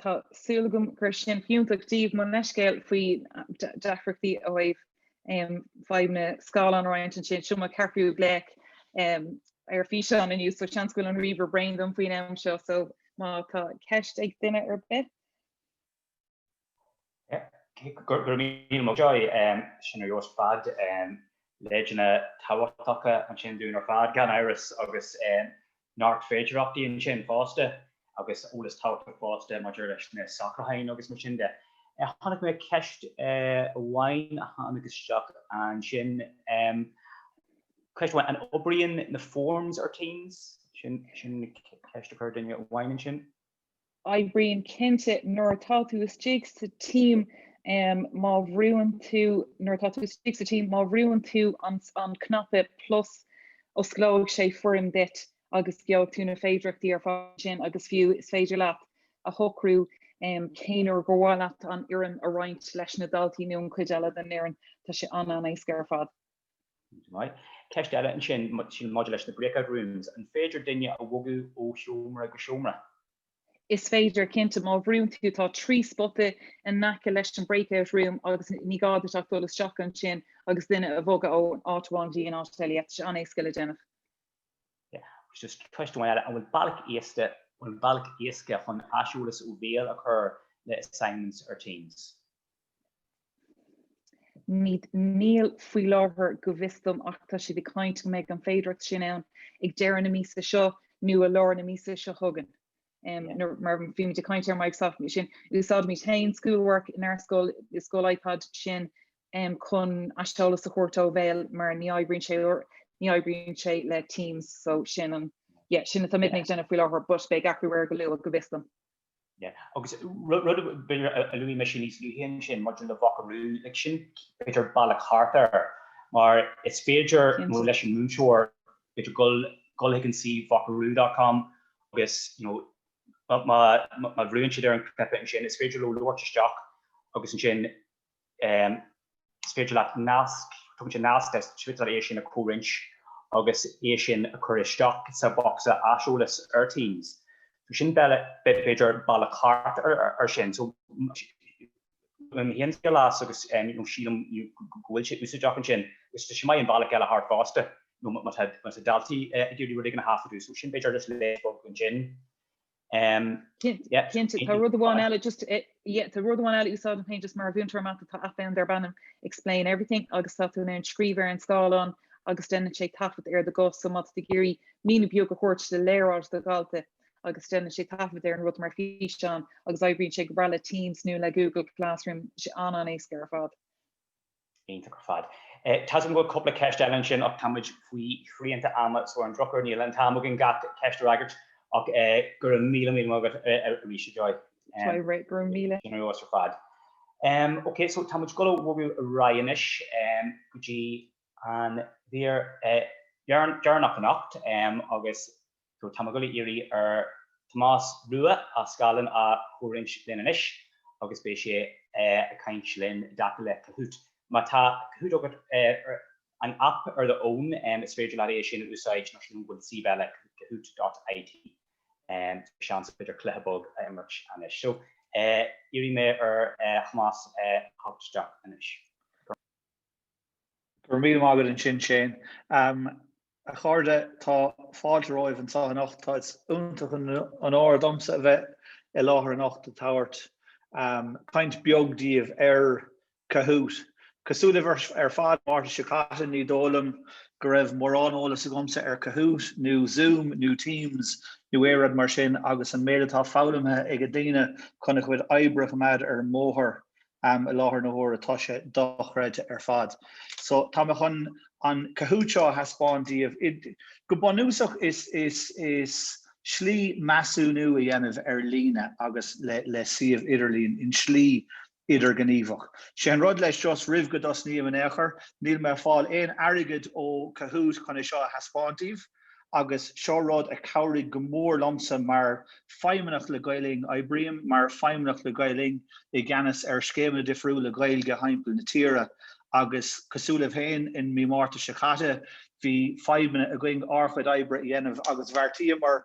Tá súil agam go raibh sin fiúntach daoibh mo leithscéal faoi deacrachtaí a bhí agam fadhb an scáileán a roinnt ansin. Seo mo cheathrú glaoch um ar físeán inniu so seans go bhfuil an ríomhaire bréan díom faoin am seo so má tá ceist ag duine ar bith. Go raibh míle maith agat. Sin ar dóigh ar fad leideanna tábhachtacha ansin dúinn ar fad, gan amhras, agus neart féidearthachtaí ansin fosta agus eolas tábhachtach fosta maidir leis na socrúcháin agus mar sin de. Chonaic mé ceist amháin a tháinig isteach ansin, ceist amháin, an oibríonn na forms ar Teams? Sin ceist a chuir duine amháin ansin. Oibríonn cinnte nuair atá tú istigh sa team má bhrúnn tú nuair atá tú istigh sa team má bhrúnn tú an cnaipe plus osclóidh sé foirm duit agus gheobhaidh tú na féidearthachtaí ar fad ansin agus fiú is féidir leat a shocrú cén uair gur mhaith leat an fhoirm a roinnt leis na daltaí nó an chuid eile den fhoireann. Tá sé an-an éasca ar fad. Ceist eile ansin, sin maidir leis na breakout rooms, an féidir duine a bhogadh ó sheomra go seomra? Is féidir, cinnte. Má bhrúnn tú, tá trí spota in aice leis an breakout room agus ní gá duit ach dul isteach ansin agus duine a bhogadh ó áit amháin go dtí an áit eile. Tá sé an-éasca le déanamh. Agus just ceist amháin eile, an bhfuil bealach éasca, an bhfuil bealach éasca chun aiseolas ó bhéal a chur le assignments ar Teams? Níl faoi láthair, go bhfios dom, ach tá siad ag caint go mbeidh an féidireacht sin ann ag deireadh na míosa seo nó i lár na míosa seo chugainn. Mar bhí muid ag caint ar Microsoft, sin, úsáidimid féin Schoolwork inár scoil, i scoil iPad sin chun aiseolas a thabhairt ó bhéal mar ní oibríonn sé, ní oibríonn sé le Teams so sin an, yeah, sin atá muidne ag déanamh faoi láthair but beidh athrú air go luath, go bhfios dom. Agus rud a b'fhéidir a luaigh mise níos luaithe ansin maidir le Vocaroo, like sin b'fhéidir bealach thart air, mar is féidir nó leis an múinteoir b'fhéidir dul dul chuig an suíomh vocaroo.com agus you know má má bhrúnn siad ar an cnaipe ansin is féidir leo labhairt isteach agus ansin Is féidir leat nasc, tugann sé nasc le Twitter, é sin a chomhroinnt agus é sin a chur isteach sa bhocsa aiseolais ar Teams. So sin b'fhéidir bealach thart ar sin. So bhain mise triail as agus sílim go bhfuil sé úsáideach ansin. Is tá sin maith an bealach eile thart fosta, má tá daltaí ag iarraidh rud éigin a thaifeadadh, so sin b'fhéidir leid bheag ansin. Cinnte, tá rud amháin eile, just, yeah, tá rud amháin eile a úsáidim féin just mar mhúinteoir mata, tá aip ann darb ainm Explain Everything agus tá tú in ann scríobh ar an scáileán agus deineann sé taifead ar do ghuth, so má tá tú ag iarraidh míniú beag a thabhairt le léaráid do dhalta agus deineann sé taifead ar an rud mar fhíseán agus oibríonn sé go breá le Teams nó le Google Classroom, sé an-éasca ar fad. Iontach ar fad. Tá a fhios agam go bhfuil cúpla ceist eile ansin ach tá muid faoi shrianta ama so ar an drochuair níl an t-am againn gach ceist a fhreagairt ach go raibh míle míle maith agat arís a Joy. Tá mé réidh, go raibh míle. Genius ar fad. Ok so tá muid ag dul a bhogadh ar aghaidh anois go dtí an mhír deireanach anocht agus Tá mé ag gabháil a iarraidh ar Thomás Rua a scáileán a chomhroinnt linn anois agus beidh sé ag caint linn i dtaca le Kahoot. Má tá Kahoot agat ar an aip ar do fhón is féidir leat é sin a úsáid nó sin go bhfuil suíomh eile kahoot dot it. Seans b'fhéidir cluiche beag a imirt anois. So iarrfaidh mé ar Thomás theacht isteach anois. Go raibh míle maith agat ansin Shane. A chairde, tá fáilte romhaibh anseo anocht. Is iontach an onóir domsa a bheith i láthair anocht ag tabhairt caint beag daoibh ar Kahoot. Cosúil libh ar fad, an Márta seo caite ní dóigh liom go raibh mórán eolas agamsa ar Kahoot, nó Zoom, nó Teams, nó aon rud mar sin agus an méid atá foghlamtha ag daoine chun a gcuid oibre a choimeád ar an mbóthar am i láthair na huaire tá sé dochreidte ar fad. So tá mé chun an Kahoot seo a thaispeáint díobh. Go bunúsach is, is, is slí measúnú a dhéanamh ar líne agus le, le suíomh idirlín in slí idirghníomhach. Sé an rud leis just roimh go dtosnaím in aon chor, níl mé ag fáil aon airgead ó Kahoot chun é seo a thaispeáint díobh. agus seo rud a chabhraigh go mór liomsa mar Feidhmeannach le Gael Linn. Oibrím mar Feidhmeannach le Gael Linn i gceannas ar scéimeanna difriúla Gaeilge timpeall na tíre agus cosúil libh féin, in Mí Márta seo caite bhí feidhmeanna againn ár chuid oibre a dhéanamh agus bheartaíomar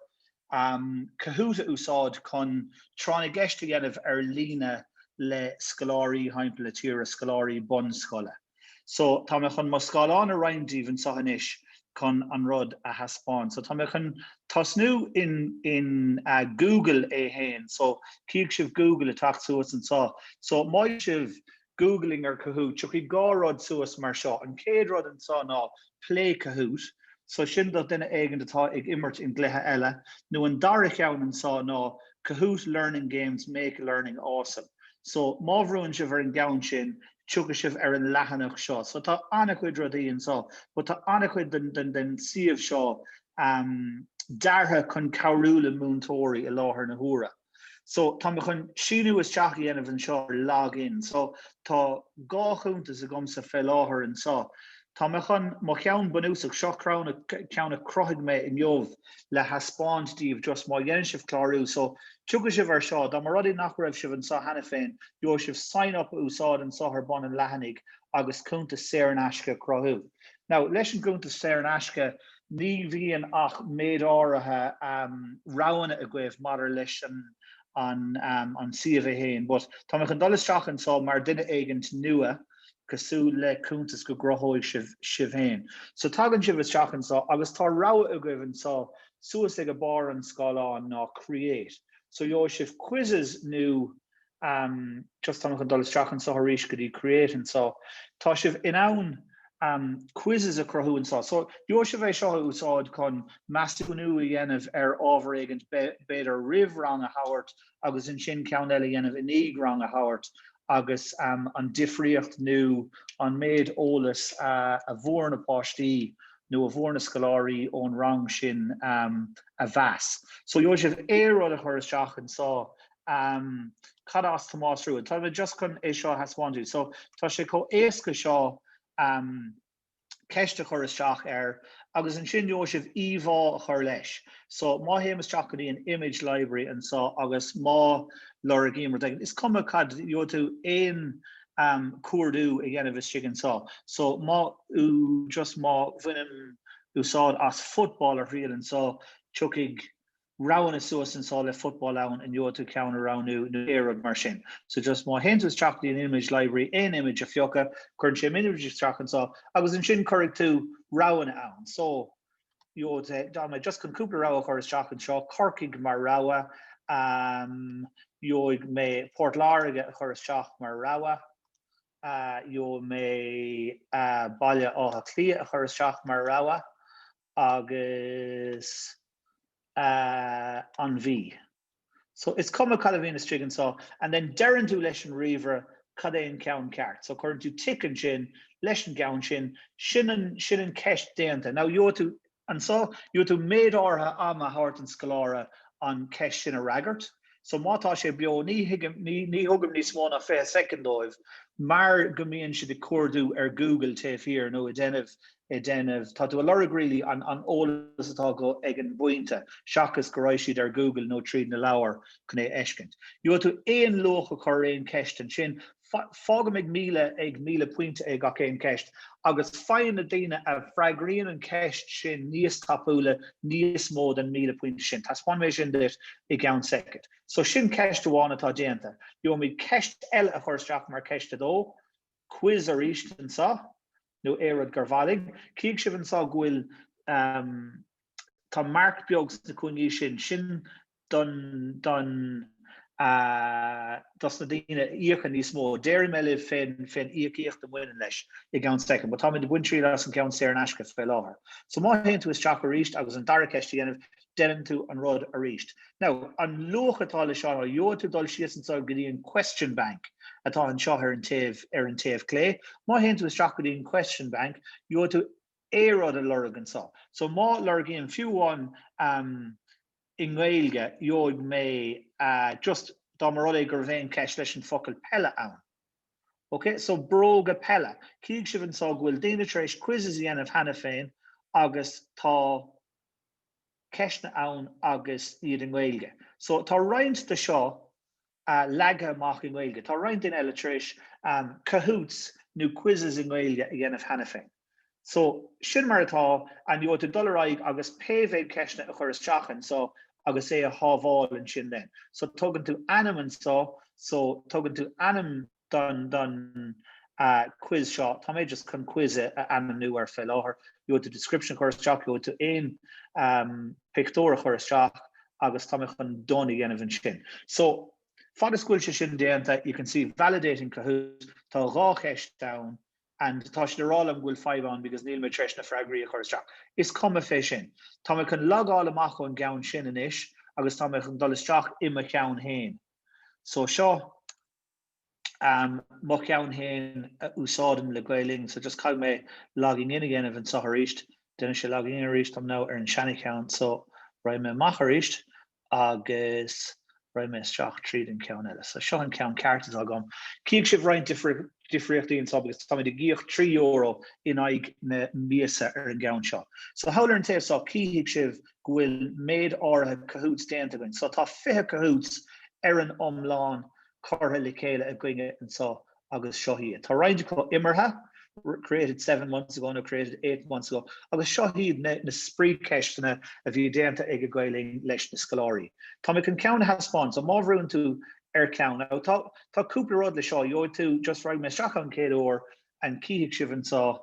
Kahoot a úsáid chun Tráth na gCeist a dhéanamh ar líne le scoláirí timpeall na tíre, scoláirí bunscoile. So, tá mé chun mo scáileán a roinnt libh anseo anois chun an rud a thaispeáint. So, tá mé chun tosnú in, in uh, Google é féin. So, chíonn sibh Google ag teacht suas anseo. So, má dhéanann sibh Googling ar Kahoot, tiocfaidh dhá rud suas mar seo. An chéad rud anseo ná Play Kahoot, so sin do dhuine éigin atá ag imirt i gcluiche eile, nó an dara cheann anso ná Kahoot Learning Games Make Learning Awesome. So má bhrúann sibh ar an gceann sin, tiocfaidh sibh ar an leathanach seo. So tá an-chuid rudaí anso, but tá an-chuid den suíomh seo deartha chun cabhrú le múinteoirí i láthair na huaire. So, tá mé chun síniú isteach a dhéanamh anseo ar Log In. So, tá dhá chuntas agamsa fé láthair anso. Tá mé chun mo cheann bunúsach, seo ceann a chruthaigh mé inniu, le taispeáint daoibh just má dhéanann sibh clárú. So, tiocfaidh sibh ar seo. Dá mba rud é nach raibh sibh anso cheana féin, gheobhaidh sibh Sign Up a úsáid anso ar bun an leathanaigh agus cuntas saor in aisce a chruthú. Now, leis an gcuntas saor in aisce, ní bhíonn ach méid áirithe roghanna agaibh maidir leis an suíomh é féin. But tá mé chun dul isteach anseo mar duine éigin nua, cosúil le cuntas go gcruthódh sibh féin. So tagann sibh isteach anseo agus tá rogha agaibh anseo suas ag barr an scáileáin ná Create. So gheobhaidh sibh quizzes nó. am, just tá mé chun dul isteach anseo arís go dtí create anseo. Tá sibh in ann am quizzes a chruthú anseo. So, gheobhaidh sibh é seo a úsáid chun measúnú a dhéanamh ar ábhar éigin b'fhéidir roimh rang a thabhairt agus ansin ceann eile a dhéanamh i ndiaidh rang a thabhairt agus am an difríocht nó an méid eolas a a fuair na páistí nó a fuair na scoláirí ón rang sin am a mheas. So, gheobhaidh sibh aon rud a chur isteach anseo. am cad as Tomás Rua. Tá mé just chun é seo a thaispeáint daoibh. So tá sé chomh éasca seo am ceist a chur isteach air agus ansin gheobhaidh sibh íomhá a chur leis. So má théim isteach go dtí an image library anso agus má lorgaím rud éigin, is cuma cad, gheobhaidh tú aon am cuardú a dhéanamh istigh anso. So má just má bhainim úsáid as football ar thriail anso tiocfaidh roghanna suas anso le football ann and gheobhaidh tú ceann a roghnú nó pé rud mar sin. So just má théann tú isteach dtí'n image library aon image a phiocadh cuireann sé an image isteach anso agus ansin cuirfidh tú roghanna ann. So you know tá mé just chun cúpla rogha a chur isteach anseo Corcaigh mar rogha um, gheobhaidh mé Port Láirge a chur isteach mar rogha uh, gheobhaidh mé uh, Baile Átha Cliath a chur isteach mar rogha agus an mhí. So, is cuma cad a bhíonn istigh anseo, and then deireann tú leis an ríomhaire cad é an ceann ceart. So, cuireann tú tick ansin leis an gceann sin, sin an, sin an cheist déanta. Now, gheobhaidh tú, anseo, gheobhaidh tú méid áirithe ama a thabhairt don scoláire an cheist sin a fhreagairt. So, má tá sé beo, ní thugaim, ní, ní thugaim níos mó ná fiche soicind dóibh mar go mbíonn siad ag cuardú ar Google taobh thiar nó ag déanamh ag déanamh, tá tú ag lorg really an an eolas atá acu ag an bpointe seachas go raibh siad ar Google nó tríd na leabhair chun é a fheiscint. Gheobhaidh tú aon luach a chur ar aon ceist ansin, fágaim ag míle ag míle pointe ag gach aon ceist agus faigheann na daoine a freagraíonn an ceist sin níos tapúla níos mó den míle pointe sin. Taispeánfaidh mé sin duit i gceann soicind. So sin ceist amháin atá déanta. Gheobhaimid ceist eile a chur isteach mar ceist a dó, quiz arís anseo nó aon rud gur mhaith libh. Cífidh sibh anseo go bhfuil tá marc beag sna cúinní sin, sin don don dos na daoine a íocann níos mó. Déarfaidh mé libh fén íocaíocht a bhaineann leis i gceann soicind, but táimid ag baint triail as an gceann saor in aisce fé láthair. So má théann tú isteach arís agus an dara ceist a dhéanamh, deineann tú an rud arís. Now, an luach atá leis seo, gheobhaidh tú dul síos anseo go dtí an Question Bank atá anseo ar an taobh, ar an taobh clé. Má théann tú isteach go dtí an Question Bank, gheobhaidh tú aon rud a lorg anseo. So má lorgaím fiú amháin um i nGaeilge, gheobhaidh mé uh just dá mba rud é go raibh aon cheist leis an focal peile ann. OK, so bróga peile. Chífidh sibh anseo go bhfuil daoine tar éis quizzes a dhéanamh cheana féin agus tá, ceisteanna ann agus iad i nGaeilge. So tá roinnt de seo leagtha amach i nGaeilge. Tá roinnt daoine eile tar éis Kahoots nó quizzes i nGaeilge a dhéanamh cheana féin. So sin mar atá and gheobhaidh tú dul ar aghaidh agus pé mhéad ceisteanna a chur isteach anseo agus é a shábháil ansin then. So tugann tú ainm anseo so tugann tú ainm, don quiz seo. Tá mé just chun quiz a ainmniú air fé láthair. Gheobhaidh tú description a chur isteach, gheobhaidh tú aon pictiúr a chur isteach agus tá mé chun done a dhéanamh ansin. So, fad is go bhfuil sé sin déanta, you can see validating Kahoot, tá dhá cheist ann and tá siad ag rá liom go bhfuil fadhb ann because níl mé tar éis na freagraí a chur isteach. Is cuma fé sin. Tá mé chun logáil amach ón gceann sin anois agus tá mé chun dul isteach i mo cheann féin. So seo. am, mo cheann féin a úsáidim le Gael Linn, so just caithfidh mé logging in a dhéanamh anseo arís, déanann sé logging in arís dom now ar an seana cheann, so raghaidh mé amach arís agus raghaidh mé isteach tríd an ceann eile, so seo an ceann ceart atá agam. Cífidh sibh roinnt difríochtaí anseo agus táimid ag íoc trí euro in aghaidh na míosa ar an gceann seo. So thall ar an taobh seo cífidh sibh go bhfuil méid áirithe Kahoots déanta againn. So tá 20 Kahoots ar an iomlán curtha le chéile againne anseo agus seo iad. Tá roinnt acu imeartha, created seven months ago nó created eight months ago, agus seo iad na, na spraoicheisteanna a bhí déanta ag a Gael Linn leis na scoláirí. Tá mé chun ceann a thaispeáint, so má bhrúnn tú ar ceann, now, tá, tá cúpla rud le seo, gheobhaidh tú, just raghaidh mé isteach an chéad uair, and cífidh sibh anseo,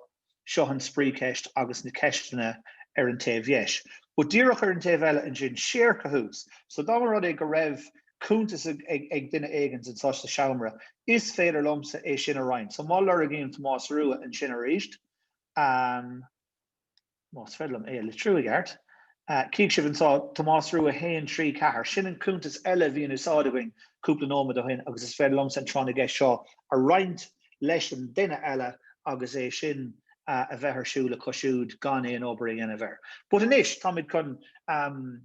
Seo an spraoicheist agus na ceisteanna ar an taobh dheis. But díreach ar an taobh eile ansin, share Kahoots. So dá mba rud é go raibh cuntas ag duine éigin anso sa seomra, is féidir liomsa é sin a roinnt. So má lorgaím Tomás Rua ansin arís, más féidir liom é a litriú i gceart, cífidh sibh anso, Tomás Rua haon trí ceathair. Sin an cuntas eile a bhí in úsáid againn cúpla nóiméad ó shin agus is féidir liomsa an tráth na gceist seo a roinnt leis an duine eile agus é sin a bheith ar siúl acu siúd gan aon obair a dhéanamh air. But anois, táimid chun ehm,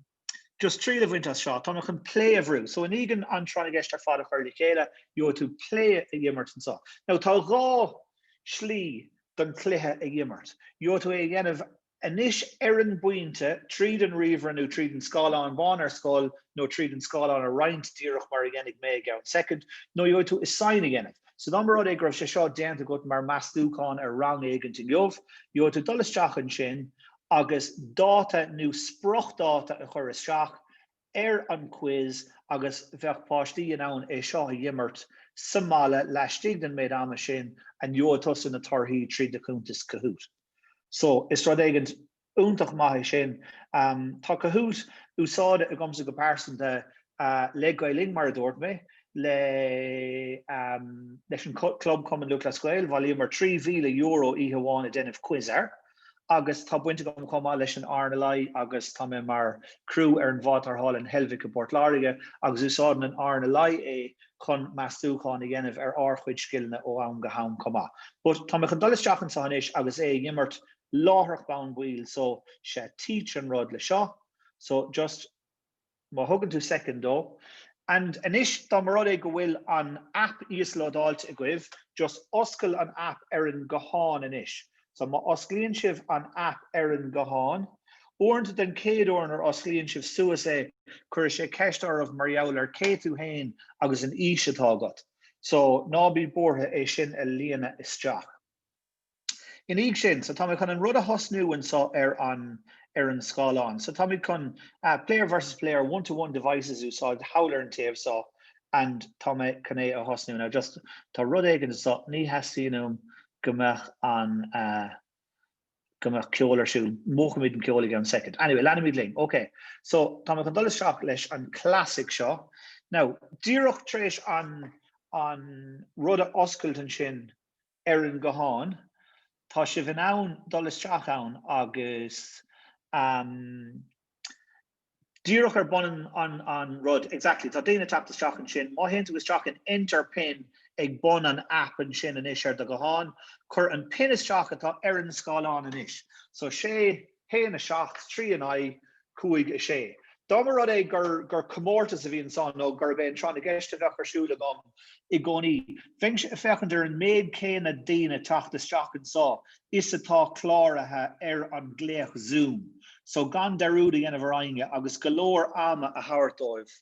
just triail a bhaint as seo, táimid chun play a bhrú. So i ndiaidh dúinn an tráth na gceist ar fad a chur le chéile, gheobhaidh tú play a dh'imirt anso. Now tá dhá shlí don chluiche a dh'imirt. Gheobhaidh tú é a dhéanamh anois ar an bpointe, tríd an ríomhaire nó tríd an scáileán bán ar scoil nó tríd an scáileán a roinnt díreach mar a dhéanfaidh mé i gceann soicind, nó gheobhaidh tú assign a dhéanamh. So dá mba rud é go raibh sé seo déanta agat mar meastúchán ar rang éigint inniu, gheobhaidh tú dul isteach ansin agus dáta nó spriocdháta a chur isteach, ar an quiz agus bheadh páistí in ann é seo a dh'imirt sa mbaile laistigh den méid ama sin and gheobhadh tusa na torthaí tríd do chuntas Kahoot. So, is rud éigint iontach maith é sin. Tá Kahoot úsáidte agamsa go pearsanta le Gael Linn, mar a dúirt mé, le leis an Club Cumann Lúthchleas Gael, bhailíomar trí mhíle euro oíche amháin ag déanamh quiz air. agus tá baint agam chomh maith leis an RNLI agus tá mé mar criú ar an bhád tarrthála in Heilbhic i bPort Láirge agus úsáideann an RNLI é chun meastúcháin a dhéanamh ar ár chuid scileanna ó am go ham chomh maith. But tá mé chun dul isteach anseo anois agus é a dh'imirt láithreach bonn baill so sé Teach an rud le seo so just má thugann tú soicind dó. And anois, dá mba rud é go bhfuil an aip íoslódáilte agaibh, just oscail an aip ar an nguthán anois. So, má osclaíonn sibh an aip ar an nguthán, uaireanta den chéad uair nuair a osclaíonn sibh suas é, cuirfidh sé ceist oraibh mar gheall ar cé tú fhéin agus an aois atá agat. So, ná bí buartha é sin a líonadh isteach. Ina dhiaidh sin, so tá mé chun an rud a thosnú anseo ar an, ar an scáileán. So táimid chun ah, player versus player, one to one devices a úsáid thall ar an taobh so and tá mé chun é a thosnú. Now just, tá rud éigin anseo, ní theastaíonn uaim go mbeadh an ah, go mbeadh ceol ar siúl. Múchaimid an ceol i gceann soicind. Anyway, leanfaimid linn. OK. So tá mé chun dul isteach leis an classic seo. Now, díreach tar éis an, an rud a oscailt ansin, ar an nguthán, tá sibh in ann dul isteach ann agus ehm díreach ar bun an an rud, exactly, tá daoine teacht isteach ansin, má théann tú isteach an enter pin ag bun an app ansin anois ar do ghuthán, cuir an pin isteach atá ar an scáileán anois. So sé. 1, 7, 3, 9, 5, 6. Dá mba rud é gur comórtas a bhí ansan nó gurb é an tráth na gceist a bheadh ar siúl agam i gcónaí, bheinnse ag féachaint ar an méid céanna daoine teacht isteach anso is atá cláraithe ar an nglaoch Zoom so gan dearúd a dhéanamh ar éinne agus go leor ama a thabhairt dóibh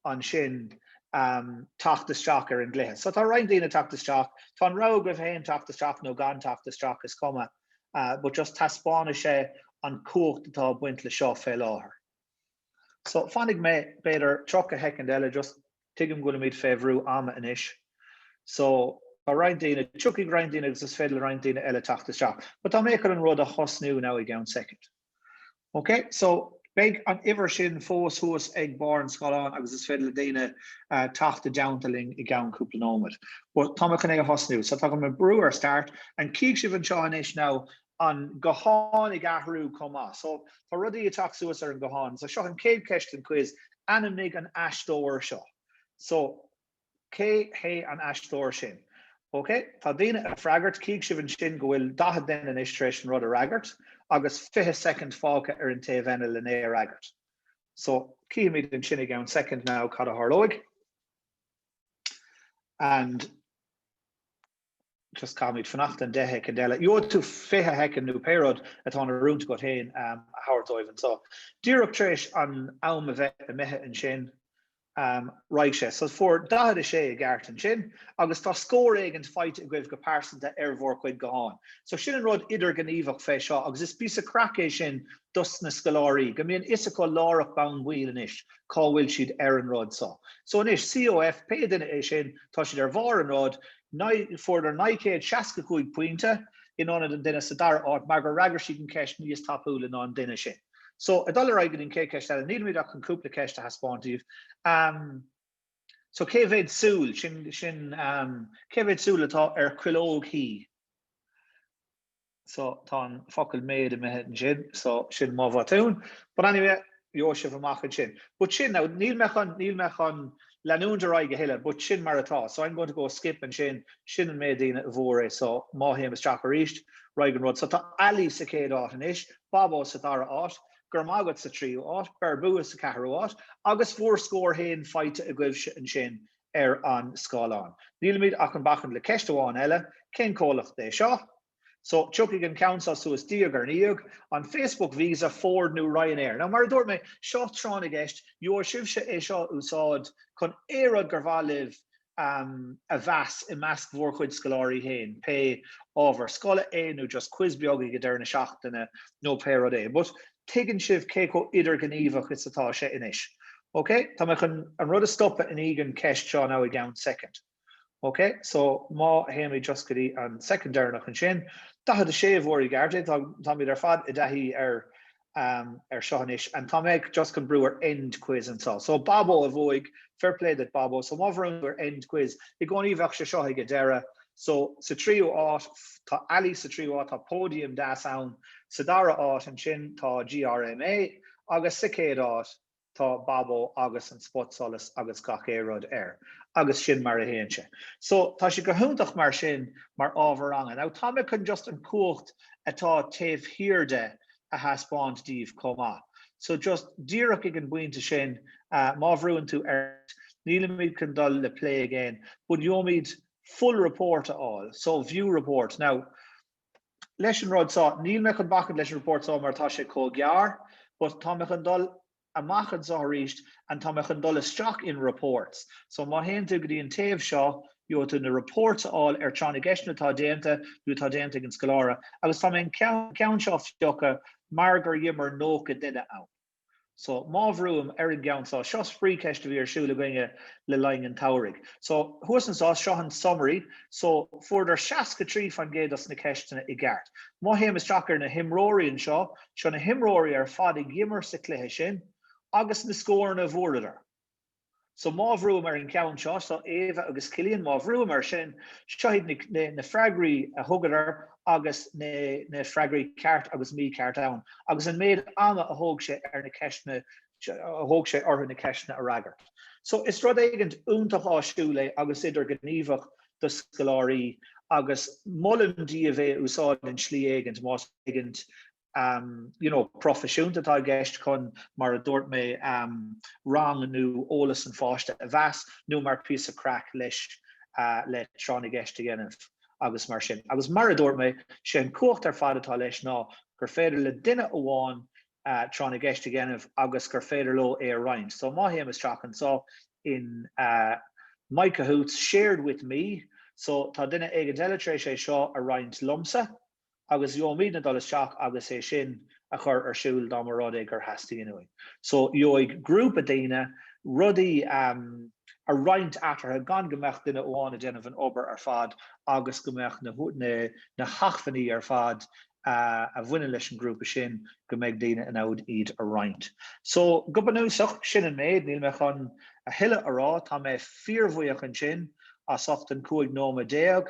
ansin teacht isteach ar an gcluiche. So tá roinnt daoine teacht isteach, tá an rogha agaibh féin teacht isteach nó gan teacht isteach, is cuma, but just taispeánfaidh sé an chumhacht atá ag baint le seo fé láthair. So fanfaidh mé b'fhéidir 30 shoicind eile just, tuigim go bhfuilimid fé bhrú ama anois. So tá roinnt daoine, tiocfaidh roinnt daoine agus is féidir le roinnt daoine eile teacht isteach. But tá mé chun an rud a thosnú now i gceann soicind. Ok so beidh an uimhir sin fós thuas ag barr an scáileáin agus is féidir le daoine teacht i dteannta linn i gceann cúpla nóiméad. But tá mé chun é a thosnú so tá orm brú ar start and cífidh sibh anseo anois now an guthán ag athrú chomh maith so tá rudaí ag teacht suas ar an ghuthán so seo an chéad cheist den quiz, ainmnigh an aisteoir seo so Cé hé an aisteoir sin? OK, tá daoine ag freagairt, cífidh sibh ansin go bhfuil 40 duine anois tar éis an rud a fhreagairt agus 20 soicind fágtha ar an taobh eile le n-é a fhreagairt. So, cífimid ansin i gceann soicind now cad a tharlóidh. And. just caithfimid fanacht an deich shoicind eile nó fiche shoicind nó pé rud atá in oiriúint agat féin a thabhairt dóibh anso. Díreach tar éis an am a bheith imithe ansin raghaidh sé. So fuair 46 i gceart ansin agus tá scór éigint faighte agaibh go pearsanta ar bhur gcuid gutháin. So sin an rud idirghníomhach fé seo agus is píosa craic é sin dos na scoláirí go mbíonn fhios acu láithreach bonn baill anois cá bhfuil siad ar an rud so. So anois, COF, pé duine é sin, tá siad ar bharr an rud, fuaireadar naoi gcéad seasca cúig pointe, in ionad an duine sa dara áit, mar gur fhreagair siad an cheist níos tapúla ná an duine sin. So, ag dul ar aghaidh go dtí an chéad cheist eile, nílimid ach chun cúpla ceist a thaispeáint daoibh. So, cé mhéad súil, sin, cé mhéad súil atá ar chuileog thí? so tá an focal méid imithe ansin so sin mo bhotún but anyway gheobhaidh sibh amach ansin but sin now níl mé chun níl mé chun leanúint ar aghaidh a thuilleadh but sin mar atá so I'm going to go skip ansin sin an méid daoine a bhfuair é so má théim isteach arís ar aghaidh an rud so tá Ali sa chéad áit anois Babó sa dara áit go raibh maith agat sa tríú áit Berbú sa ceathrú áit agus bhúr scór féin faighte agaibhse ansin ar an scáileán. Nílimid ach chun bacaint le ceist amháin eile, cén comhlacht é seo? So, tiocfaidh an ceann seo suas diaidh ar ndiaidh, an Facebook Visa, Ford nó Ryanair. Now, mar a dúirt mé, seo tráth na gceist, gheobhaidh sibhse é seo a úsáid chun aon rud gur mhaith libh a mheas i measc bhúr chuid scoláirí féin, pé ábhar scoile é nó just quiz beag ag deireadh na seachtaine nó pé rud é. But tuigeann sibh cé chomh idirghníomhach is atá sé anois. Ok, tá mé chun an rud a stopadh i ndiaidh an ceist seo now i gceann soicind. Ok, so má théimid just go dtí an soicind deireanach ansin, 46 bhfuair i gceart é, táimid ar fad i dtaithí ar seo anois and tá mé just chun brú ar end quiz anso. So Babo a bhuaigh, fair play duit Babo, so má bhrúnn tú ar end quiz i gcónaí bheadh sé seo ag an deireadh, so sa tríú áit tá Ali, sa tríú áit tá póidiam deas ann, sa dara áit ansin tá GRMA agus sa chéad áit tá Babó agus an spotsolas agus gach aon rud air agus sin mar a théann sé. So tá sé go hiontach mar sin mar ábhar ranga. Now tá mé chun just an chumhacht atá taobh thiar de a thaispeáint daoibh chomh maith. So just díreach ag an bpointe sin, má bhrúnn tú ar nílimid chun dul le play again but gheobhaimid full report a fháil. So view report. Now leis an rud so. Níl mé chun bacaint leis an report so mar tá sé chomh gearr but tá mé chun dul amach anso arís and tá mé chun dul isteach in reports. So má théann tú go dtí an taobh seo, gheobhaidh tú na reports a fháil ar tráth na gceisteanna atá déanta nó atá déanta ag an scoláire agus tá mé chun an ceann seo a phiocadh mar gur dh'imir 90 duine ann. So, má bhrúim ar an gceann so, seo spraoicheist a bhí ar siúl againne le linn an tsamhraidh. So, thuas anso, seo an summary. So, fuaireadar seasca trí fan gcéad dos na ceisteanna i gceart. Má théim isteach ar na himreoirí anseo, seo na himreoirí ar fad a dh'imir sa chluiche sin agus na scóranna a bhfuaireadar. So má bhrúim ar an gceann seo, tá Éabha agus Cillian, má bhrúim air sin, seo iad na freagraí a thugadar agus na freagraí ceart agus mícheart ann agus an méid ama a thóg sé ar na ceisteanna, a thóg sé orthu na ceisteanna a fhreagairt. So is rud éigint iontach áisiúil é agus idirghníomhach do scoláirí agus molaim daoibh é a úsáid in slí éigint más féidir. you know, proifisiúnta atá i gceist chun, mar a dúirt mé, rang nó eolas an pháiste a mheas nó mar phíosa craic leis le tráth na gceist a dhéanamh agus mar sin. Agus mar a dúirt mé, sé an chumhacht ar fad atá leis ná gur féidir le duine amháin tráth na gceist a dhéanamh agus gur féidir leo é a roinnt. So má théim isteach anseo in My Kahoots, shared with me, so tá duine éigint eile tar éis é seo a roinnt liomsa, agus gheobhaimidne dul isteach agus é sin a chur ar siúl dá mba rud é gur theastaigh uainn. So gheobhaidh grúpa daoine rudaí a roinnt eatarthu gan go mbeadh duine amháin ag déanamh an obair ar fad agus go mbeadh na hachmhainní ar fad a bhaineann leis an ghrúpa sin, go mbeidh daoine in ann iad a roinnt. So go bunúsach, sin an méid, níl mé chun a thuilleadh a rá. Tá mé fíorbhuíoch ansin as ucht an cúig nóiméad déag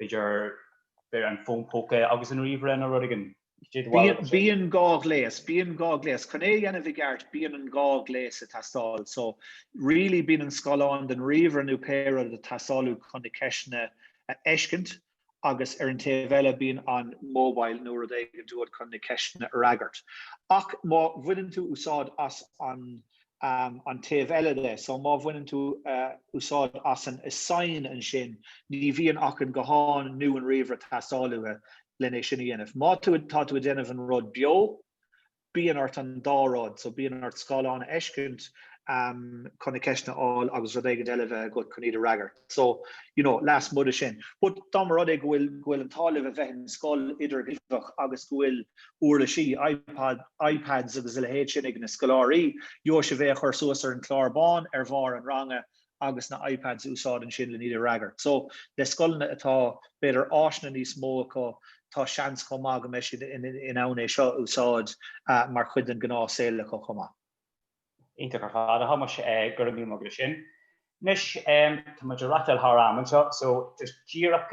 b'fhéidir b'fhéidir an fón póca agus an ríomhaire nó rud éigin. Cé do bharúil faoi sin? Bíonn dhá ghléas, bíonn dhá ghléas. Chun é a dhéanamh i gceart bíonn an dhá ghléas ag teastáil. So, really bíonn an scáileán den ríomhaire nó pé rud ag teastáil chun na ceisteanna a fheiscint agus ar an taobh eile bíonn an mobile nó rud éigint uait chun na ceisteanna a fhreagairt. Ach má bhaineann tú úsáid as an. an taobh eile de. So má bhaineann tú úsáid as an assign ansin, ní bhíonn ach an guthán nó an ríomhaire ag teastáil uait len é sin a dhéanamh. Má tú, tá tú ag déanamh an rud beo, bíonn ort an dá rud, so bíonn ort scáileán a fheiscint chun na ceisteanna a fháil agus rud éigint eile a bheith agat chun iad a fhreagairt. so, you know, lasmuigh de sin. But dá mba rud é go bhfuil, go bhfuil an t-ádh libh a bheith in scoil idirghníomhach agus go bhfuil uirlisí, iPod, iPads agus a leithéid sin ag na scoláirí, gheobhadh sibh é a chur suas ar an chlár bán ar bharr an ranga agus na iPads a úsáid ansin len iad a fhreagairt. So, le scoileanna atá, b'fhéidir, áiseanna níos mó acu, tá seans chomh maith go mbeidh siad in ann é seo a úsáid mar chuid den ghnáthshaol acu chomh maith. Iontach ar fad. A Thomáis go raibh míle maith agat ansin. Anois tá muid ag reáchtáil thar am anseo so just díreach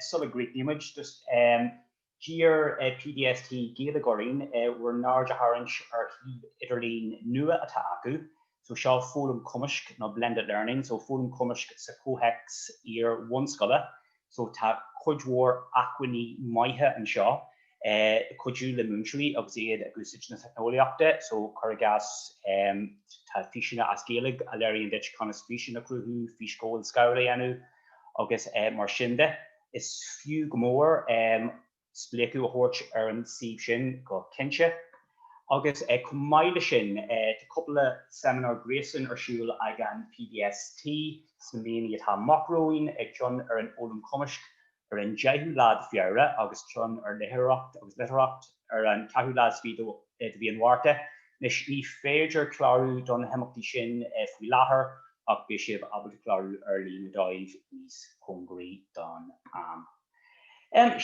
sula gcríochnaíonn muid just d'iarr PDST Gaeilge orainn bhur n-aird a tharraingt ar shuíomh idirlín nua atá acu so seo Foghlaim Cumaisc nó Blended Learning so foghlaim cumaisc sa comhthéacs iar-bhunscoile So tá cuid mhór acmhainní maithe anseo le cuidiú le múinteoirí agus iad ag úsáid na teicneolaíochta. So cuir i gcás tá físeáin as Gaeilge a léiríonn duit conas físeán a chruthú, físghabháil scáileáin a dhéanamh agus mar sin de. Is fiú go mór spléachadh a thabhairt ar an suíomh sin go cinnte agus chomh maith le sin tá cúpla seimineár gréasáin ar siúl ag an PDST sna míonna atá amach romhainn, ceann ar an fhoghlaim chumaisc ar an 10ú lá de Feabhra agus ceann ar litríocht agus litearthacht ar an 4ú lá is fiche de mhí an Mhárta. Anois ní féidir clárú do na himeachtaí sin faoi láthair ach beidh sibh ábalta clárú ar líne dóibh níos cóngaraí don am.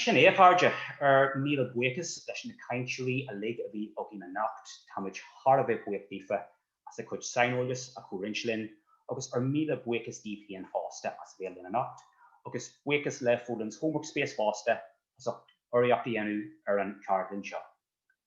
Sin é, a chairde, ár míle buíochas leis na cainteoirí uilig a bhí againn anocht, tá muid thar a bheith buíoch daofa as a gcuid saineolais a chomhroinnt linn, agus ár míle buíochas daoibh féin fosta as bheith linn anocht, agus buíochas le Folens Homework Space fosta as ucht urraíocht a dhéanamh ar an cheardlann seo.